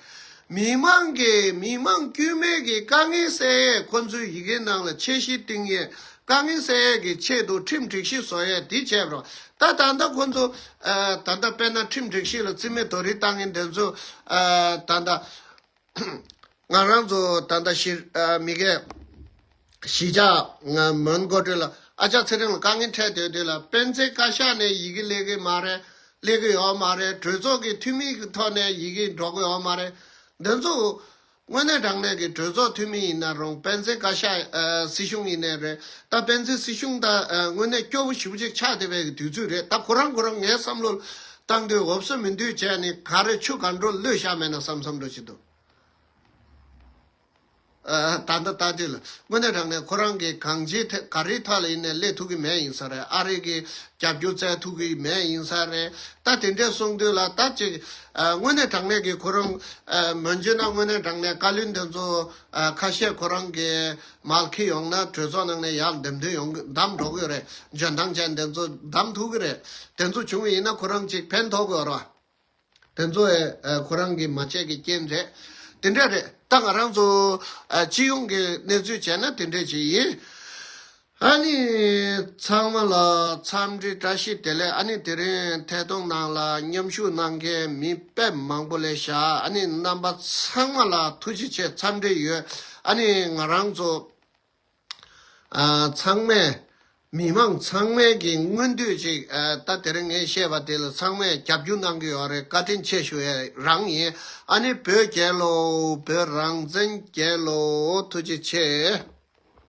མི་དམངས་ཀྱི་མི་དམངས་དཀྱུས་མའི་གི་དཀའ་ངལ་སེལ་ཡས་ཁོ་ཚོའི་ཡི་གེ་ནང་ལ་ཆད་གཞི་བཏིང་ཡས་དཀའ་ངལ་སེལ་ཡས་གི་ཆེད་དུ་ཁྲིམས་སྒྲིག་གཞི་བཟོ་ཡས་དེ་བྱས་པ་རེད། ད་ད་ལྟ་ཁོ་ཚོ་ད་ལྟ་དཔལ་ནང་ཁྲིམས་སྒྲིག་གཞི་ལ་བརྩི་མེད་དོ་རིགས་བཏང་ངན་འདི་ཚོ་ད་ལྟ་ང་རང་ཚོ་ད་ལྟ་གཞི་མི་གས་གཞི་ཆགས་ང་མོན་མགོ་སྤྲོད་ལ་ཨ་ཅག་ཚེ་རིང་ལ་དཀའ་ངལ་འཕྲད་སྡོད་དུས་ལ་སྤེན་ཚེ་བཀའ་ཤག་ནས་ཡི་གེ་ལེགས་གི་མ་རེད་ལེགས་གི་ཡོད་མ་རེད་གྲོས་ཚོགས་ཀྱི་འཐུས་མི་གི་ཐོག་ནས་ཡི་གེ་འགྲོ་གི་ཡོད་མ་རེད་འདི་ཚོ་དངོས་གནས་དྲང་གནས་ཀྱི་གྲོས་ཚོགས་འཐུས་མི་ཡིན་ན་རུང་དཔལ་ཆེན་བཀའ་ཤག་སྲིད་གཞུང་ཡིན་ནའི་རེད་ད་དཔལ་ཆེན་སྲིད་གཞུང་ད་དངོས་གནས་སྐྱོ་བོ་ཞིབ་གཅིག་ཆགས་བསྡད་པའི་དུས་ཚོད་རེད་ད་ཁོ་རང་ཁོ་རང་ངའི་བསམ་བློ་བཏང་དུས་འོབས་སོ་མི་འདུས་བྱས་ནི་ག་རེ་ཆུ་ག་འགྲོ་གླུད་ཞག་མེད་ན་བསམ་བསམ་འགྲོ་བྱེད་དོ། ད་ལྟ་ལྟ་དུས་ལ་དངོས་གནས་དྲང་གནས་ཁོ་རང་གིས་གང་ཅིའི་ཐད་ག་རེའི་ཐག་ལ་ཡིན་ནའི་སླེབས་ཐུབ་ཀྱི་མེད་ཡིན་ས་རེད་ཨ་རིག་གི་རྒྱབ་སྐྱོར་བཙལ་ཐུབ་ཀྱི་མེད་ཡིན་ས་རེད་ད་དེ་འདྲས་གསུངས་དུས་ལ་ད་ཅིག་དངོས་གནས་དྲང་གནས་ཀྱི་གོ་རིམ། མོན་རྒྱུད་ན་དངོས་གནས་དྲང་གནས་བཀའ་བློན་དེ་ཚོ་ཁ་ཤས་ཁོ་རང་གི་མལ་ཁི་ཡོང་ན་གྲོས་ཚོགས་ནང་ནས་ཡར་འདེམས་དོན་ཡོང་གི་གདམ་འགྲོ་གི་ཡོད་རེད་འཇོན་ཐང་ཅན་དེ་ཚོ་གདམ་ཐུབ་ཀྱི་རེད་དེ་ཚོ་བྱུང་བ་ཡིན་ན་ཁོ་རང་གཅིག་ཕན་ཐོག་གི་ཡོད་རེད། དེ་ཚོ་ཁོ་རང་གིས་མ་བྱས་ཀྱི་རྐྱེན་རེད། དེ་འདྲ་རེད་ད་ང་རང་ཚོ་སྤྱི་ཡོངས་ཀྱི་གནས་ཚུལ་བྱས་ན་དེ་འདྲ་ཞིག་ཡིན། ཨཱ་ནི། ཚང་མ་ལ་འཚམས་འདྲི་བཀྲ་ཤིས་བདེ་ལེགས་ཨཱ་ནི་དེ་རིང་ཐད་གཏོང་ནང་ལ་མཉམ་ཞུགས་གནང་མཁན་མི་དཔེ་མང་པོ་ལས་ཤག་ཨཱ་ནི་རྣམ་པ་ཚང་མ་ལ་ཐུགས་རྗེ་ཆེ་འཚམས་འདྲི་ཡོད་ཨཱ་ནི་ང་རང་ཚོ་ཚང་མས་མི་མང་ཚང་མས་ཀྱི་སྔོན་དུས་ཅིག་ད་དེ་རིང་ངས་བཤད་པ་དེ་ལ་ཚང་མས་རྒྱབ་སྐྱོར་གནང་གི་ཡོད་རེད་བཀའ་དྲིན་ཆེ་ཞུ་ཡས་རང་ཡིན་ཨཱ་ནི་བོད་རྒྱལ་ལོ་བོད་རང་བཙན་རྒྱལ་ལོ་ཐུགས་རྗེ་ཆེ།